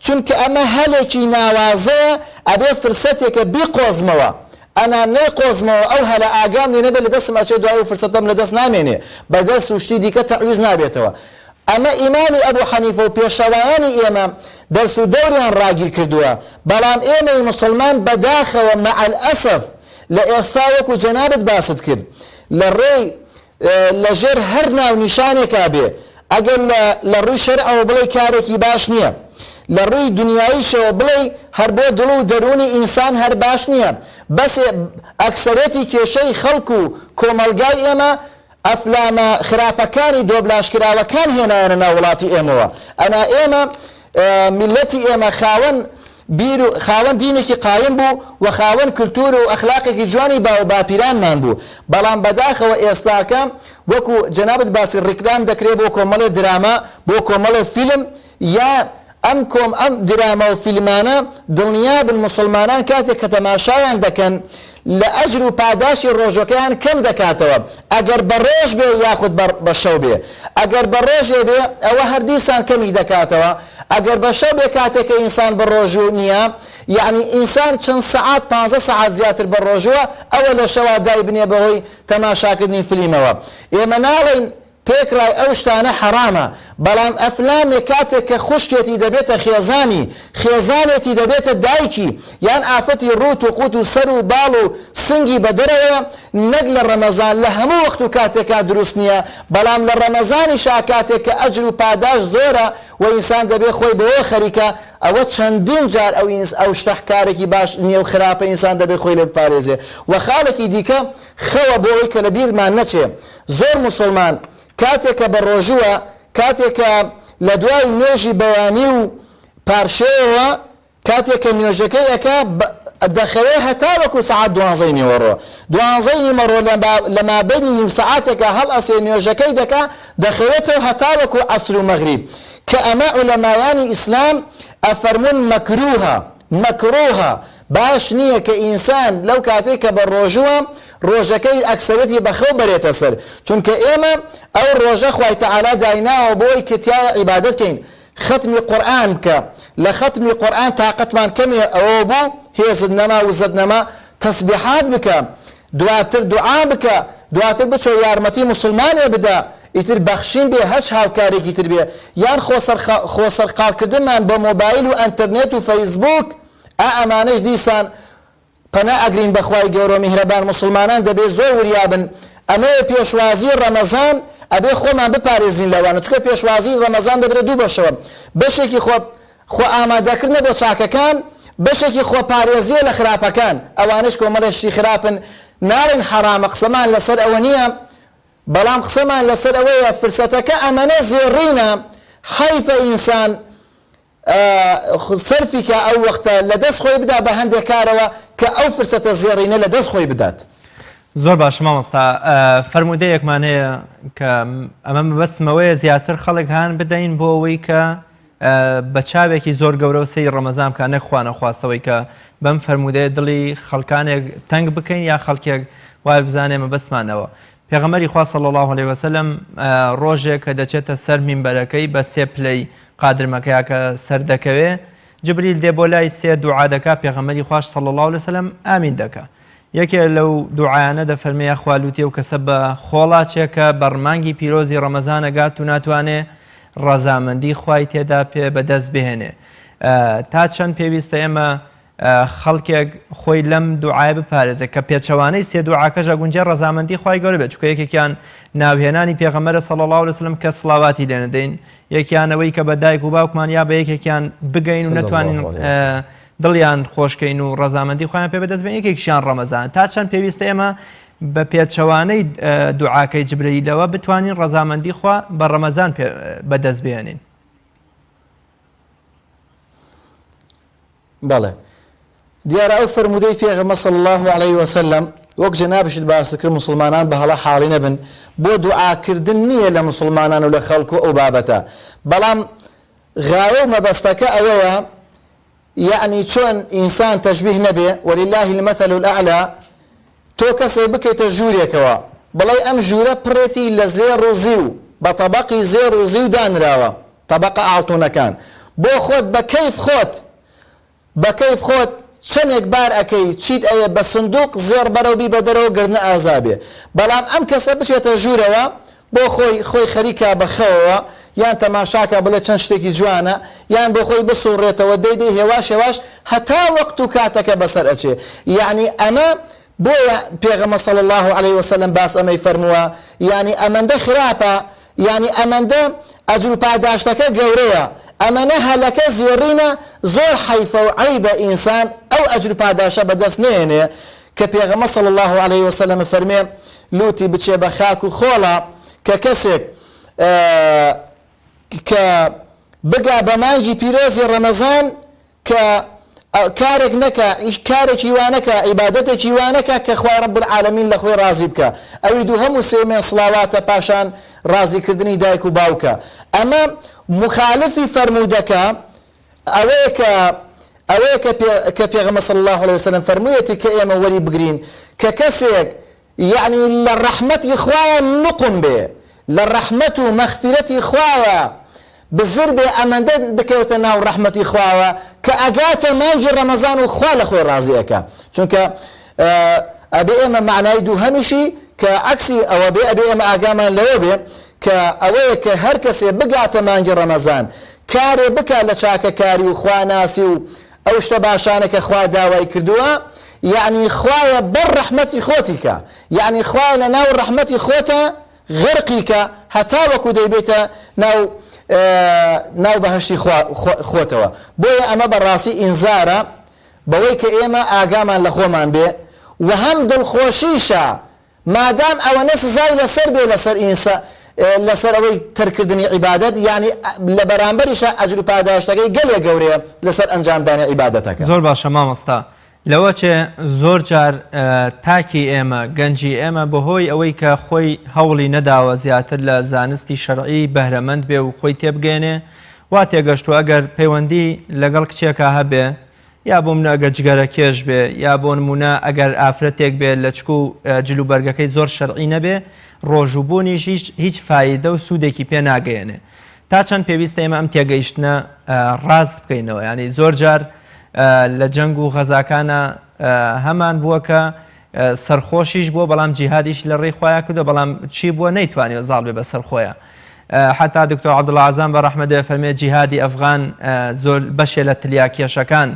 B: چونکە ئەمە هەلێکی ناوازەیە ئەبێ فرسەتێکە بیقۆزمەوە ئەنا نەیقۆزمەوە ئەو هەلە ئاگام لێ نەبێ لە دەستم ئەچێ دوای ئەو فرسەتەم لە دەست نامێنێ بە دەرس و شتی دیکە تەعویز نابێتەوە ئەمە ئیمامی ئەبو حەنیفە و پێشەوایانی ئێمە دەرس و دەوریان ڕاگیر کردووە بەڵام ئێمەی موسڵمان بە داخەوە مەعەلئەسەف لە ئێستا وەکو جەنابت باست کرد لە ڕێی لە ژێر هەر ناونیشانێکا بێ، ئەگەر لە لە ڕووی شەرعەوە بڵێی کارێکی باش نییە، لە ڕووی دنیاییشەوە بڵێی هەر بۆ دڵ و دەروونی ئینسان هەر باش نییە، بەس ئەکسەرێتی کێشەی خەڵک و کۆمەڵگای ئێمە ئەفلامە خراپەکانی دۆبلاژکراوەکان هێنایانە ناو وڵاتی ئێمەوە، ئەنا ئێمە میللەتی ئێمە خاوەن بیر و خاوەن دینێکی قایم بوو و خاوەن کلتور و ئەخلاقێکی جوانی باوباپیرانمان بوو بەڵام بەداخەوە ئێستاکە وەکو جەنابت باسی ڕیکلام دەکرێ بۆ کۆمەڵێ دراما بۆ کۆمەڵێ فیلم یان ئەم کۆم ئەم دراما و فیلمانە دڵنیابن موسڵمانان کاتێک کە تەماشایان دەکەن لە ئەجر و پاداشتی ڕۆژەکەیان کەم دەکاتەوە ئەگەر بە ڕۆژ بێ یاخود بە شەو بێ ئەگەر بە ڕۆژێ بێ ئەوە هەر دیسان کەمی دەکاتەوە ئەگەر بە شەو بێ کاتێک کە ئینسان بە ڕۆژوو نییە یەعنی ئینسان چەند سەعات پانزە سەعات زیاتر بە ڕۆژووە ئەوە لە شەوا دایبنێ بەهۆی تەماشاکردنی فلیمەوە ئێمە ناڵێین تێکڕای ئەو شتانە حەرامە، بەڵام ئەفلامێک کاتێک کە خوشکێتی دەبێتە خێزانی، خێزانێتی دەبێتە دایکی، یان ئافەتی ڕووت و قووت و سەر و باڵ و سنگی بە دەرەوەیە، نەک لە ڕەمەزان، لە هەموو وەخت و کاتێکا دروست نییە، بەڵام لە ڕەمەزانیشا کاتێک کە ئەجر و پاداشت زۆرە و ئینسان دەبێ خۆی بەوەوە خەریکە، ئەوە چەندین جار ئەو شتە کارێکی باش نییە و خراپە ئینسان دەبێ خۆی لێ بپارێزێ و خاڵێکی دیکە، خەوە بۆ ئەوەی کە لە بیرمان نەچێ زۆر موسوڵمان کاتێ کە بە ڕۆژووە کاتێ کە لە دوای نوێژی بەیانی و پارشێوەوە کاتێ کە نوێژەکەی ئەکا دەخەوێ هەتا وەکو سەعات دوانزەی نیوەڕۆ دوانزەی نیمەڕۆ لە مابەینی نیو سەعاتێکە هەڵ ئەسێ نوێژەکەی دەکا دەخەوێتەوە هەتا وەکو عەسر و مەغریب کە ئەمە عولەمایانی ئیسلام ئەفەرمون مەکروهە مەکروهە باش نییە کە ئینسان لەو کاتەی کە بە ڕۆژووە ڕۆژەکەی ئەکسەرێتی بە خەو بەرێتە سەر چونکە ئێمە ئەو ڕۆژە خوای تەعالا دایناوە بۆی کە تیایا عیبادەت کەین ختمی قورئان بکە لە ختمی قورئان تاقەتمان کەمێ ئەوە بوو هێزت نەما وزەت نەما تەسبیحات بکە دواتر دوعا بکە دواتر بچۆ یارمەتی موسڵمانێ بدە ئیتر بەخشین بێ هەچ هاوکارێکی تر بێ یان خۆ سەرقاڵکردنمان بە مۆبایل و ئەنتەرنێت و فەیسبووک ئا ئەمانەش دیسان پەنا ئەگرین بەخوای گەورەو میهرەبان موسڵمانان دەبێ زۆر وریابن ئەمەیە پێشوازی ڕەمەزان ئەبێ خۆمان بپارێزین لەوانە چونکە پێشوازی ڕەمەزان دەبرێ دوو بەشەوە بەشێکی خۆ خۆ ئامادەکردنە بۆ چاکەکان بەشێکی خۆپارێزیە لە خراپەکان ئەوانش کۆمەڵێ شتی خراپن ناڵین حەرامە قسەمان لەسەر ئەوە نییە بەڵام قسەمان لەسەر ئەوەیە فرسەتەکە ئەمەنە زێڕینە حیفە ئینسان سەرفی کا ئەو وەختە لە دەست خۆی بدا بە هەندێ کارەوە کە ئەو فرسەتە زێڕینە لە دەست خۆی بدات. زۆر باشە
A: مامۆستا فەرموودەیەکمان هەیە کە ئەمە مەبەستم ئەوەیە زیاتر خەڵک هان بدەین بۆ ئەوەی کە بە چاوێکی زۆر گەورە و سەیری ڕەمەزان بکات نەک خوا نەخواستەوەی کە بەم فەرموودەیە دڵی خەڵکانێک تەنگ بکەین یا خەڵکێک وای بزانێ مەبەستمان ئەوە پێغەمبەری خوا صلی اللە علیه و سلم ڕۆژێک کە دەچێتە سەر مینبەرەکەی بە سێ پلەی قادر مەکەیا کە سەر دەکەوێ جبریل دێ بۆ لای سێ دوعا دەکا پێغەمبەری خواش صلی اللە علیە وسلم ئامین دەکا یەکێ لەو دوعایانە دەفەرمێ یاخوا لوتێ و کەسە بە خۆڵاچێ کە بەڕ مانگی پیرۆزی ڕەمەزان ئەگات و ناتوانێ ڕەزامەندی خوای تێدا پێ بەدەست بهێنێ تا چەند پێویستە ئێمە خەڵکێک خۆی لەم دوعایە بپارێزێت کە پێچەوانەی سێ دوعاکەش ئەگونجێ ڕەزامەندی خوای گەورە بێت چونکە یەکێکیان ناوهێنانی پێغەمبەرە صلی اللە علیە وسلم کە سڵاواتی لێ نەدەین یەکیان ئەوەی کە بە دایک و باوکمان یا بە یەکێکیان بگەین و نەتوانین دڵیان خۆشکەین و ڕەزامەندی خۆیان پێ بەدەست بێن یەکێکیان ڕەمەزان تا چەند پێویستە ئێمە بە پێچەوانەی دوعاکەی جبرەیلەوە بتوانین ڕەزامەندی خوا بە ڕەمەزان بەدەست بێنین
B: بەڵێ دیارە ئەو فەرموودەی پێغەمە صلی الله علیه وسلم وەک جەنابشت باست کرد مسلمانان بە هەڵە حاڵی نەبن بۆ دوعاکردن نییە لە مسلمانان و لە خەڵک و ئەو بابەتە بەڵام غایە و مەبەستەکە ئەوەیە یعنی چۆن ئینسان تەشبیه نەبێ ولله المثل الاعلى تۆ کەسێ بکەیتە ژوورێکەوە بڵێی ئەم ژوورە پڕێتی لە زێڕ و زیو بە تەبەقی زێڕ و زیو دانراوە تەبەقە ئاڵتونەکان بۆ خۆت بە کەیف خۆت بە کەیف خۆت چەنێک بار ئەکەی چیت ئەوێ بە سندوق زێڕ بەرەو بیبە دەرەوە گەر نە ئازابێ بەڵام ئەم کەسە بچێتە ژوورەوە بۆ خۆی خۆی خەریکە بە خەوەوە یان تەماشاکە بڵێ چەند شتێکی جوانە یان بۆ خۆی بسوڕێتەوە دەی دەی هێواش هێواش هەتا وەقت و کاتەکە بەسەر ئەچێ یەعنی ئەمە بۆیە پێغەمە صلی اللە علیە وسلم باس ئەمەی فەرمووە یەعنی ئەمەندە خراپە یەعنی ئەمەندە ئەجرو پاداشتەکە گەورەیە ئەمەنە هەلەکە زێڕینە زۆر حەیفەو عەیبە ئینسان ئەو ئەجرو پاداشە بەدەست نەیەنێ کە پێغەمبەر صلی اللە علیە وسلم فەرمێ لوتی بچێ بە خاک و خۆڵە کە کەسێک کە بگا بە مانگی پیرۆزی ڕەمەزان کە کارێک نەکە ئیش کارێکی وانەکە عیبادەتێکی وانەکە کە خوای رب العالمین لە خۆی ڕازی بکە ئەوی دوو هەموو سێمێن سڵاواتە پاشان ڕازیکردنی دایک و باوکە ئەمە مخالفی فەرموودەکە ئەوەیە کە ئەوەیە کە پێ کە پێغەمبەر صلی اللە علیە وسلم فەرموویەتی کە ئێمە وەری بگرین کە کەسێک یەعنی لە ڕەحمەتی خوایە نوقم بێ لە ڕەحمەت و مەغفیرەتی خوایە بزر بێ ئەمەندە بکەوێتە ناو ڕەحمەتی خواوە کە ئەگاتە مانگی ڕەمەزان و خوا لە خۆی ڕازی ئەکا چونکە ئەبێ ئێمە معنای دووهەمیشی کە عەکسی ئەوە بێ ئەبێ ئێمە ئاگامان لەوە بێ کە ئەوەیە کە هەر کەسێ بگاتە مانگی ڕەمەزان کارێ بکا لە چاکەکاری و خواناسی و ئەو شتە باشانە کە خوا داوای کردووە، یەعنی خوایە بەر ڕەحمەتی خۆتی کە، یەعنی خوایە لە ناو ڕەحمەتی خۆتا غەرقی کە هەتاوەکو دەیبەیتە ناو ناو بەهەشتی خوا خۆتەوە، بۆیە ئەمە بە ڕاستی ئینزارە بەوەی کە ئێمە ئاگامان لە خۆمان بێ و هەم دڵخۆشیشە، مادام ئەوەنە سزای لەسەر بێ لەسەر ئینسا لەسەر ئەوەی تەرک کردنی عیبادەت یەعنی لە بەرامبەریشا ئەجر و پاداشتەکەی گەلێک گەورەیە لەسەر ئەنجام دانی عیبادەتەکە. زۆر باشە مامۆستا
A: لەوە چێ زۆر جار تاکی ئێمە گەنجی ئێمە بەهۆی ئەوەی کە خۆی هەوڵی نەداوە زیاتر لە زانستی شەرعی بەهرەمەند بێ و خۆی تێبگەیەنێ وا تێگەشتوە ئەگەر پەیوەندی لەگەڵ کچێکا هەبێ یا بۆ منە ئەگەر جگەرە کێش بێ یا بۆ نمونە ئەگەر ئافرەتێک بێ لەچک و جل و بەرگەکەی زۆر شەرعی نەبێ ڕۆژ و بوونیش هیچ هیچ فایدە و سوودێکی پێ ناگەیەنێ تا چەند پێویستە ئێمە ئەم تێگەیشتنە ڕاست بکەینەوە ینی زۆر جار لە جەنگ و غەزاکانە هەمان بووە کە سەرخۆشیش بووە بەڵام جیهادیشی لە ڕێی خۆیا کردووە بەڵام چی بووە نەیتوانیوە زاڵ بێ بەسەر خۆیا حتا دکتۆر عەبدوڵا عەزام بە ڕەحمەت دەێ فەرمێ جیهادی ئەفغان زۆر بەشێ لە تلیاکێشەکان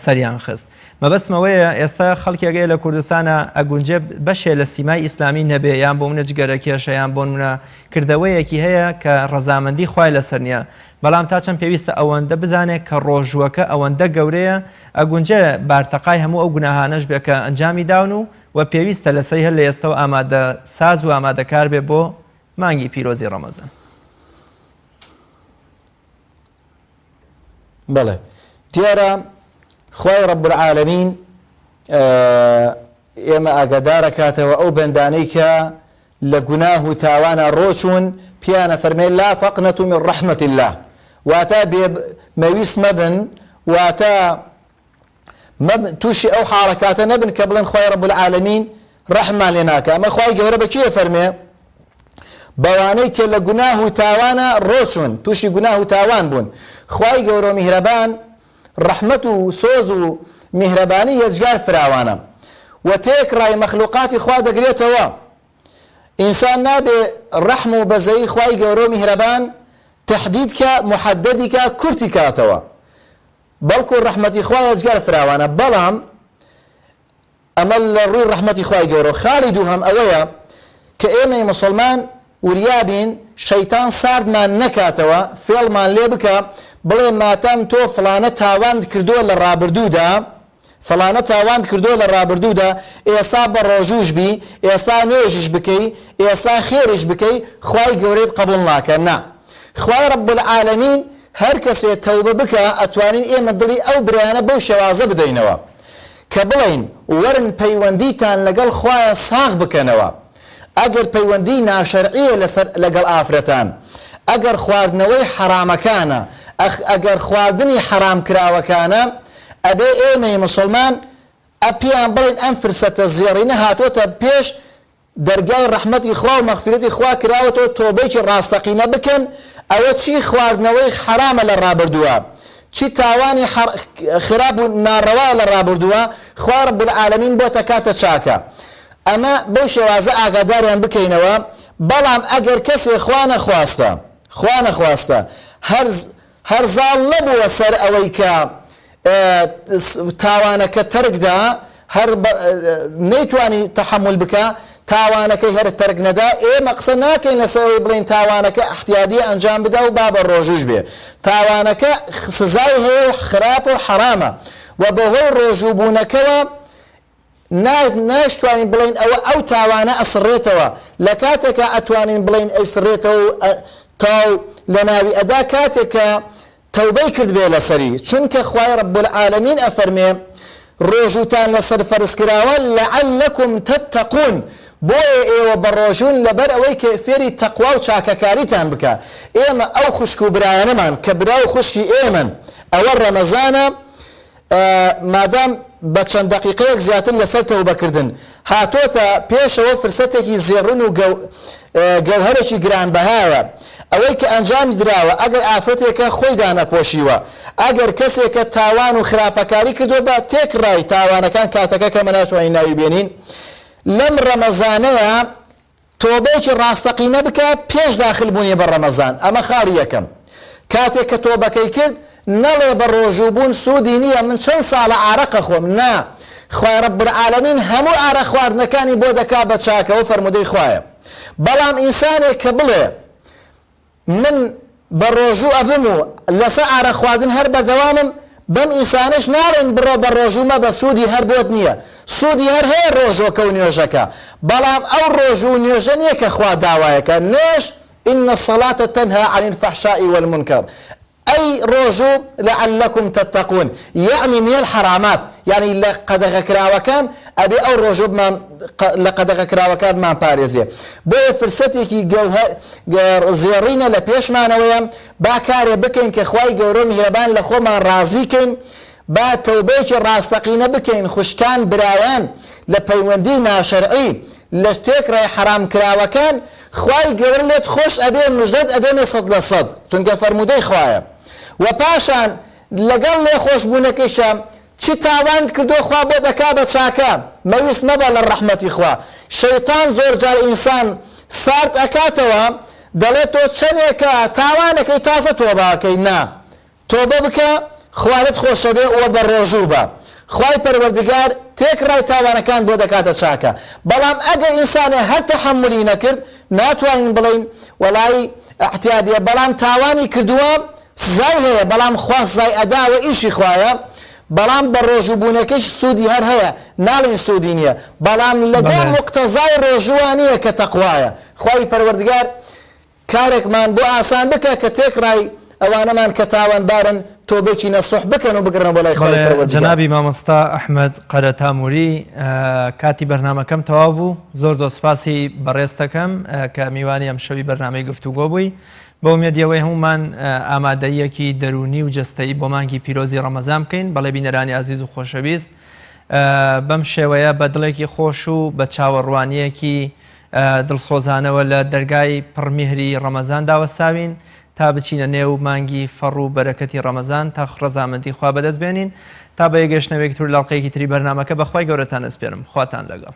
A: سەریان خست مەبەستمەوەیە ئێستا خەڵکێگەی لە کوردستانە ئەگونجێ بەشێ لە سیمای ئیسلامی نەبێ یان بۆ منە جگەرە کێشەیان بۆن منە کردەوەیەکی هەیە کە ڕەزامەندی خی لەسەر نیە بەڵام تا چەند پێویستە ئەوەندە بزانێ کە ڕۆژووەکە ئەوەندە گەورەیە ئەگونجێ بارتەقای هەموو ئەو گوناهانەش بێ کە ئەنجامی داون و وە پێویستە لە سەری هەر لە ئێستەوە ئامادە ساز و ئامادە کار بێ بۆ مانگی پیرۆزی ڕەمەزان.
B: بەڵێ دیارە خوای رب العالمین ئێمە ئاگادارەکاتەوە ئەو بەندانەی کە لە گوناه و تاوانا ڕۆچوون، پێیان ئەفەرمێ، لا تقنطوا من رحمە اللە، واتە بێ مەویست مەبن، واتە تووشی ئەو حاڵەکاتە نەبن کە بڵێن خوای رب العالمین رەحممان لێ ناکا، ئەمە خوای گەورە بە کێ ئەفەرمێ؟ بەوانەی کە لە گوناه و تاوانا ڕۆچوون، تووشی گوناه و تاوان بوون، خوای گەورە و میهرەبان ڕەحمەت و سۆز و میهرەبانی یەجگار فراوانە و تێکڕای مەخلوقاتی خوا دەگرێتەوە، ئینسان نابێ ڕەحم و بەزەیی خوای گەورە و میهرەبان تەحدید کا، محددی کا، کورتی کاتەوە، بەڵکو ڕەحمەتی خوا یەجگار فراوانە، بەڵام ئەمە لە ڕووی ڕەحمەتی خوای گەورەوە. خاڵی دووهەم ئەوەیە کە ئێمەی موسڵمان وریا بین شەیتان ساردمان نەکاتەوە فێڵمان لێ بکا بڵێ ماتەم تۆ فڵانە تاوانت کردووە لە ڕابردوودا فڵانە تاوانت کردووە لە ڕابردوودا ئێسا بە ڕۆژووش بی ئێسا نوێژیش بکەی ئێسا خێریش بکەی خوای گەورەت قەبوڵ ناکا نا خوای ڕەب العالمین هەر کەسێ تەوبە بکا ئەتوانین ئێمە دڵی ئەو برایانە بەو شێوازە بدەینەوە. کە بڵێین وەرن پەیوەندیتان لەگەڵ خوایە ساغ بکەنەوە ئەگەر پەیوەندی ناشەرعیە لەسەر لەگەڵ ئافرەتان ئەگەر خواردنەوەی حەرامەکانە ئەخ ئەگەر خواردنی حەرام کراوەکانە ئەبێ ئێمەی مسوڵمان ئە پێیان بڵێن ئەم فرسەتە زێڕینە هاتۆتە پێش دەرگای ڕەحمەتی خوا و مەغفیرەتی خوا کراوەتەوە تۆبەیەکی ڕاستەقینە بکەن ئەوە چی خواردنەوەی حەرامە لە ڕابردووە چی تاوانی خراپ و ناڕەوایە لە ڕابردووە خوای رب العالمین بۆ تەکاتە چاکە ئەمە بەو شێوازە ئاگاداریان بکەینەوە بەڵام ئەگەر کەسێ خوا نەخواستە خوا نەخواستە هەر هەر زاڵ نەبووە سەر ئەوەی کە تاوانەکە تەرک دا، هەر نەیتوانی تەحەمول بکا تاوانەکەی هەر تەرک نەدا، ئێمە قسە ناکەین لەسەر ئەوەی بڵێین تاوانەکە احتیادیە ئەنجام بدا و با بە رۆژووش بێ، تاوانەکە سزای هەیە و خراپە و حەرامە و بەهۆی رۆژوو بوونەکەوە، نایشتوانین بڵێین ئەوە ئەو تاوانە ئەسڕێتەوە لە کاتێکا ئەتوانین بڵێین ئەیسڕێتەوە و تاو لە ناوی ئەدا کاتێک کە تەوبەی کردبێ لەسەری چونکە خوای رب العالمین ئەفەرمێ ڕۆژوتان لەسەر فەرزکراوە لعلکم تتقون بۆیە ئێوە بە ڕۆژون لەبەر ئەوەی کە فێری تەقوا و چاکەکاریتان بکە ئێمە ئەو خوشک و برایانەمان کە برا و خوشکی ئێمەن ئەوە ڕەمەزانە مادام بە چەند دەقیقەیەک زیاتر لەسەر تەوبەکردن هاتۆتە پێشەوە فرسەتێکی زێڕن و گەوهەرێکی گرانبەهایە ئەوەی کە ئەنجامی دراوە ئەگەر ئافرەتێکە خۆی دانەپۆشیوە ئەگەر کەسێکە تاوان و خراپەکاری کردوە بە تێکڕای تاوانەکان کاتەکە کەمە ناتوانین ناوی بێنین لەم ڕەمەزانەیە تۆبەیەکی ڕاستەقینە بکە پێش داخل بوونی بە ڕەمەزان، ئەمە خاڵی یەکەم. کاتێک کە تۆبەکەی کرد نەڵێ بە ڕۆژوو بوون سوودی نییە من چەند ساڵە ئارەق ئەخۆم، نا، خوای رب العالمین هەموو ئارەق خواردنەکانی بۆ دەکات بە چاکەوە فەرموودەی خوایە. بەڵام ئینسانێک کە بڵێ. من بە ڕۆژوو ئەبم و لەسە ئارەق خواردن هەر بەردەوامم بەم ئینسانەش ناڵێن بڕۆ بە ڕۆژوو مەبە سوودی هەر بۆت نییە سوودی هەر هەیە ڕۆژۆکە و نوێژەکە بەڵام ئەو ڕۆژوو و نوێژە نییە کە خوا داوایەکە نوێژ ان الصلاة تنهی عن الفحشاء والمنکر ئەی ڕۆژو لعلکم تتقون یەعنی من الحرامات یەعنی لە قەدەغەکراوەکان ئەبێ ئەو ڕۆژە بمان لە قەدەغەکراوەکان بمانپارێزێ بۆیە فرسەتێکی گەوهە زێڕینە لە پێشمانەوەیە با کارێ بکەین کە خوای گەورەو میهرەبان لە خۆمان ڕازی کەین با تەوبەیەکی ڕاستەقینە بکەین خوشکان برایان لە پەیوەندی ناشەرعی لە تێکڕای حەرامکراوەکان خوای گەورە لێت خۆش ئەبێ مژدەت ئەدەمێ سەد لە سەد چونکە فەرموودەی خوایە وە پاشان لەگەڵ لێ خۆش بوونەکەیشا چ تاوانت کردووە خوا بۆت ئەکا بە چاکە مەویست مەبە لە ڕەحمەتی خوا شەیتان زۆر جار ئینسان سارد ئەکاتەوە دەڵێ تۆ چەنێکە تاوانەکەی تازە تۆبە ئەکەی نا تۆبە بکە خوا لەت خۆشەبێ وە بەڕۆژووبە خوای پەروەردگار تێکڕای تاوانەکان بۆ دەکاتە چاکە بەڵام ئەگەر ئینسانێ هەر تەحەمولی نەکرد ناتوانین بڵێین وەڵایی اعتیادیە بەڵام تاوانی کردووە سزای هەیە بەڵام خوا سزای ئەدا ئەوە ئیشی خوایە بەڵام بەڕۆژوو بوونەکەیش سوودی هەر هەیە ناڵێین سوودی نیە بەڵام لەگەڵ مقتەزای ڕۆژووە نیە کە تەقوایە خوای پەروەردگار کارێکمان بۆ ئاسان بکە کە تێکڕای ئەوانەمان کە تاوانبارن تۆبەکی نەسوح بکەن و بگەڕێنەوە بۆ لای خوای بەڵێ پەروەردگار. جەنابی مامۆستا
A: ئەحمەد قەرەتامووری کاتی بەرنامەکەم تەواو بوو زۆر زۆر سپاسی بەڕێزتەکەم کە میوانی ئەمشەوی بەرنامەی گفتوگۆ بووی بە ئومێدی ئەوەی هەموومان ئامادەییەکی دەروونی و جەستەیی بۆ مانگی پیرۆزی ڕەمەزان بکەین بەڵێ بینەرانی ئازیز و خۆشەویست بەم شێوەیە بە دڵێکی خۆش و بە چاوەڕوانییەکی دڵسۆزانەوە لە دەرگای پڕ میهری ڕەمەزاندا وەستاوین تا بچینە نێو مانگی فەڕ و بەرەکەتی ڕەمەزان تا ڕەزامەندی خوا بەدەست بێنین تا بە یەکگەشتنەوەیەکی تر لەڵقەیەکی تری بەرنامەکە بەخوای گەورەتان ئەسپێرم خواتان لەگەڵ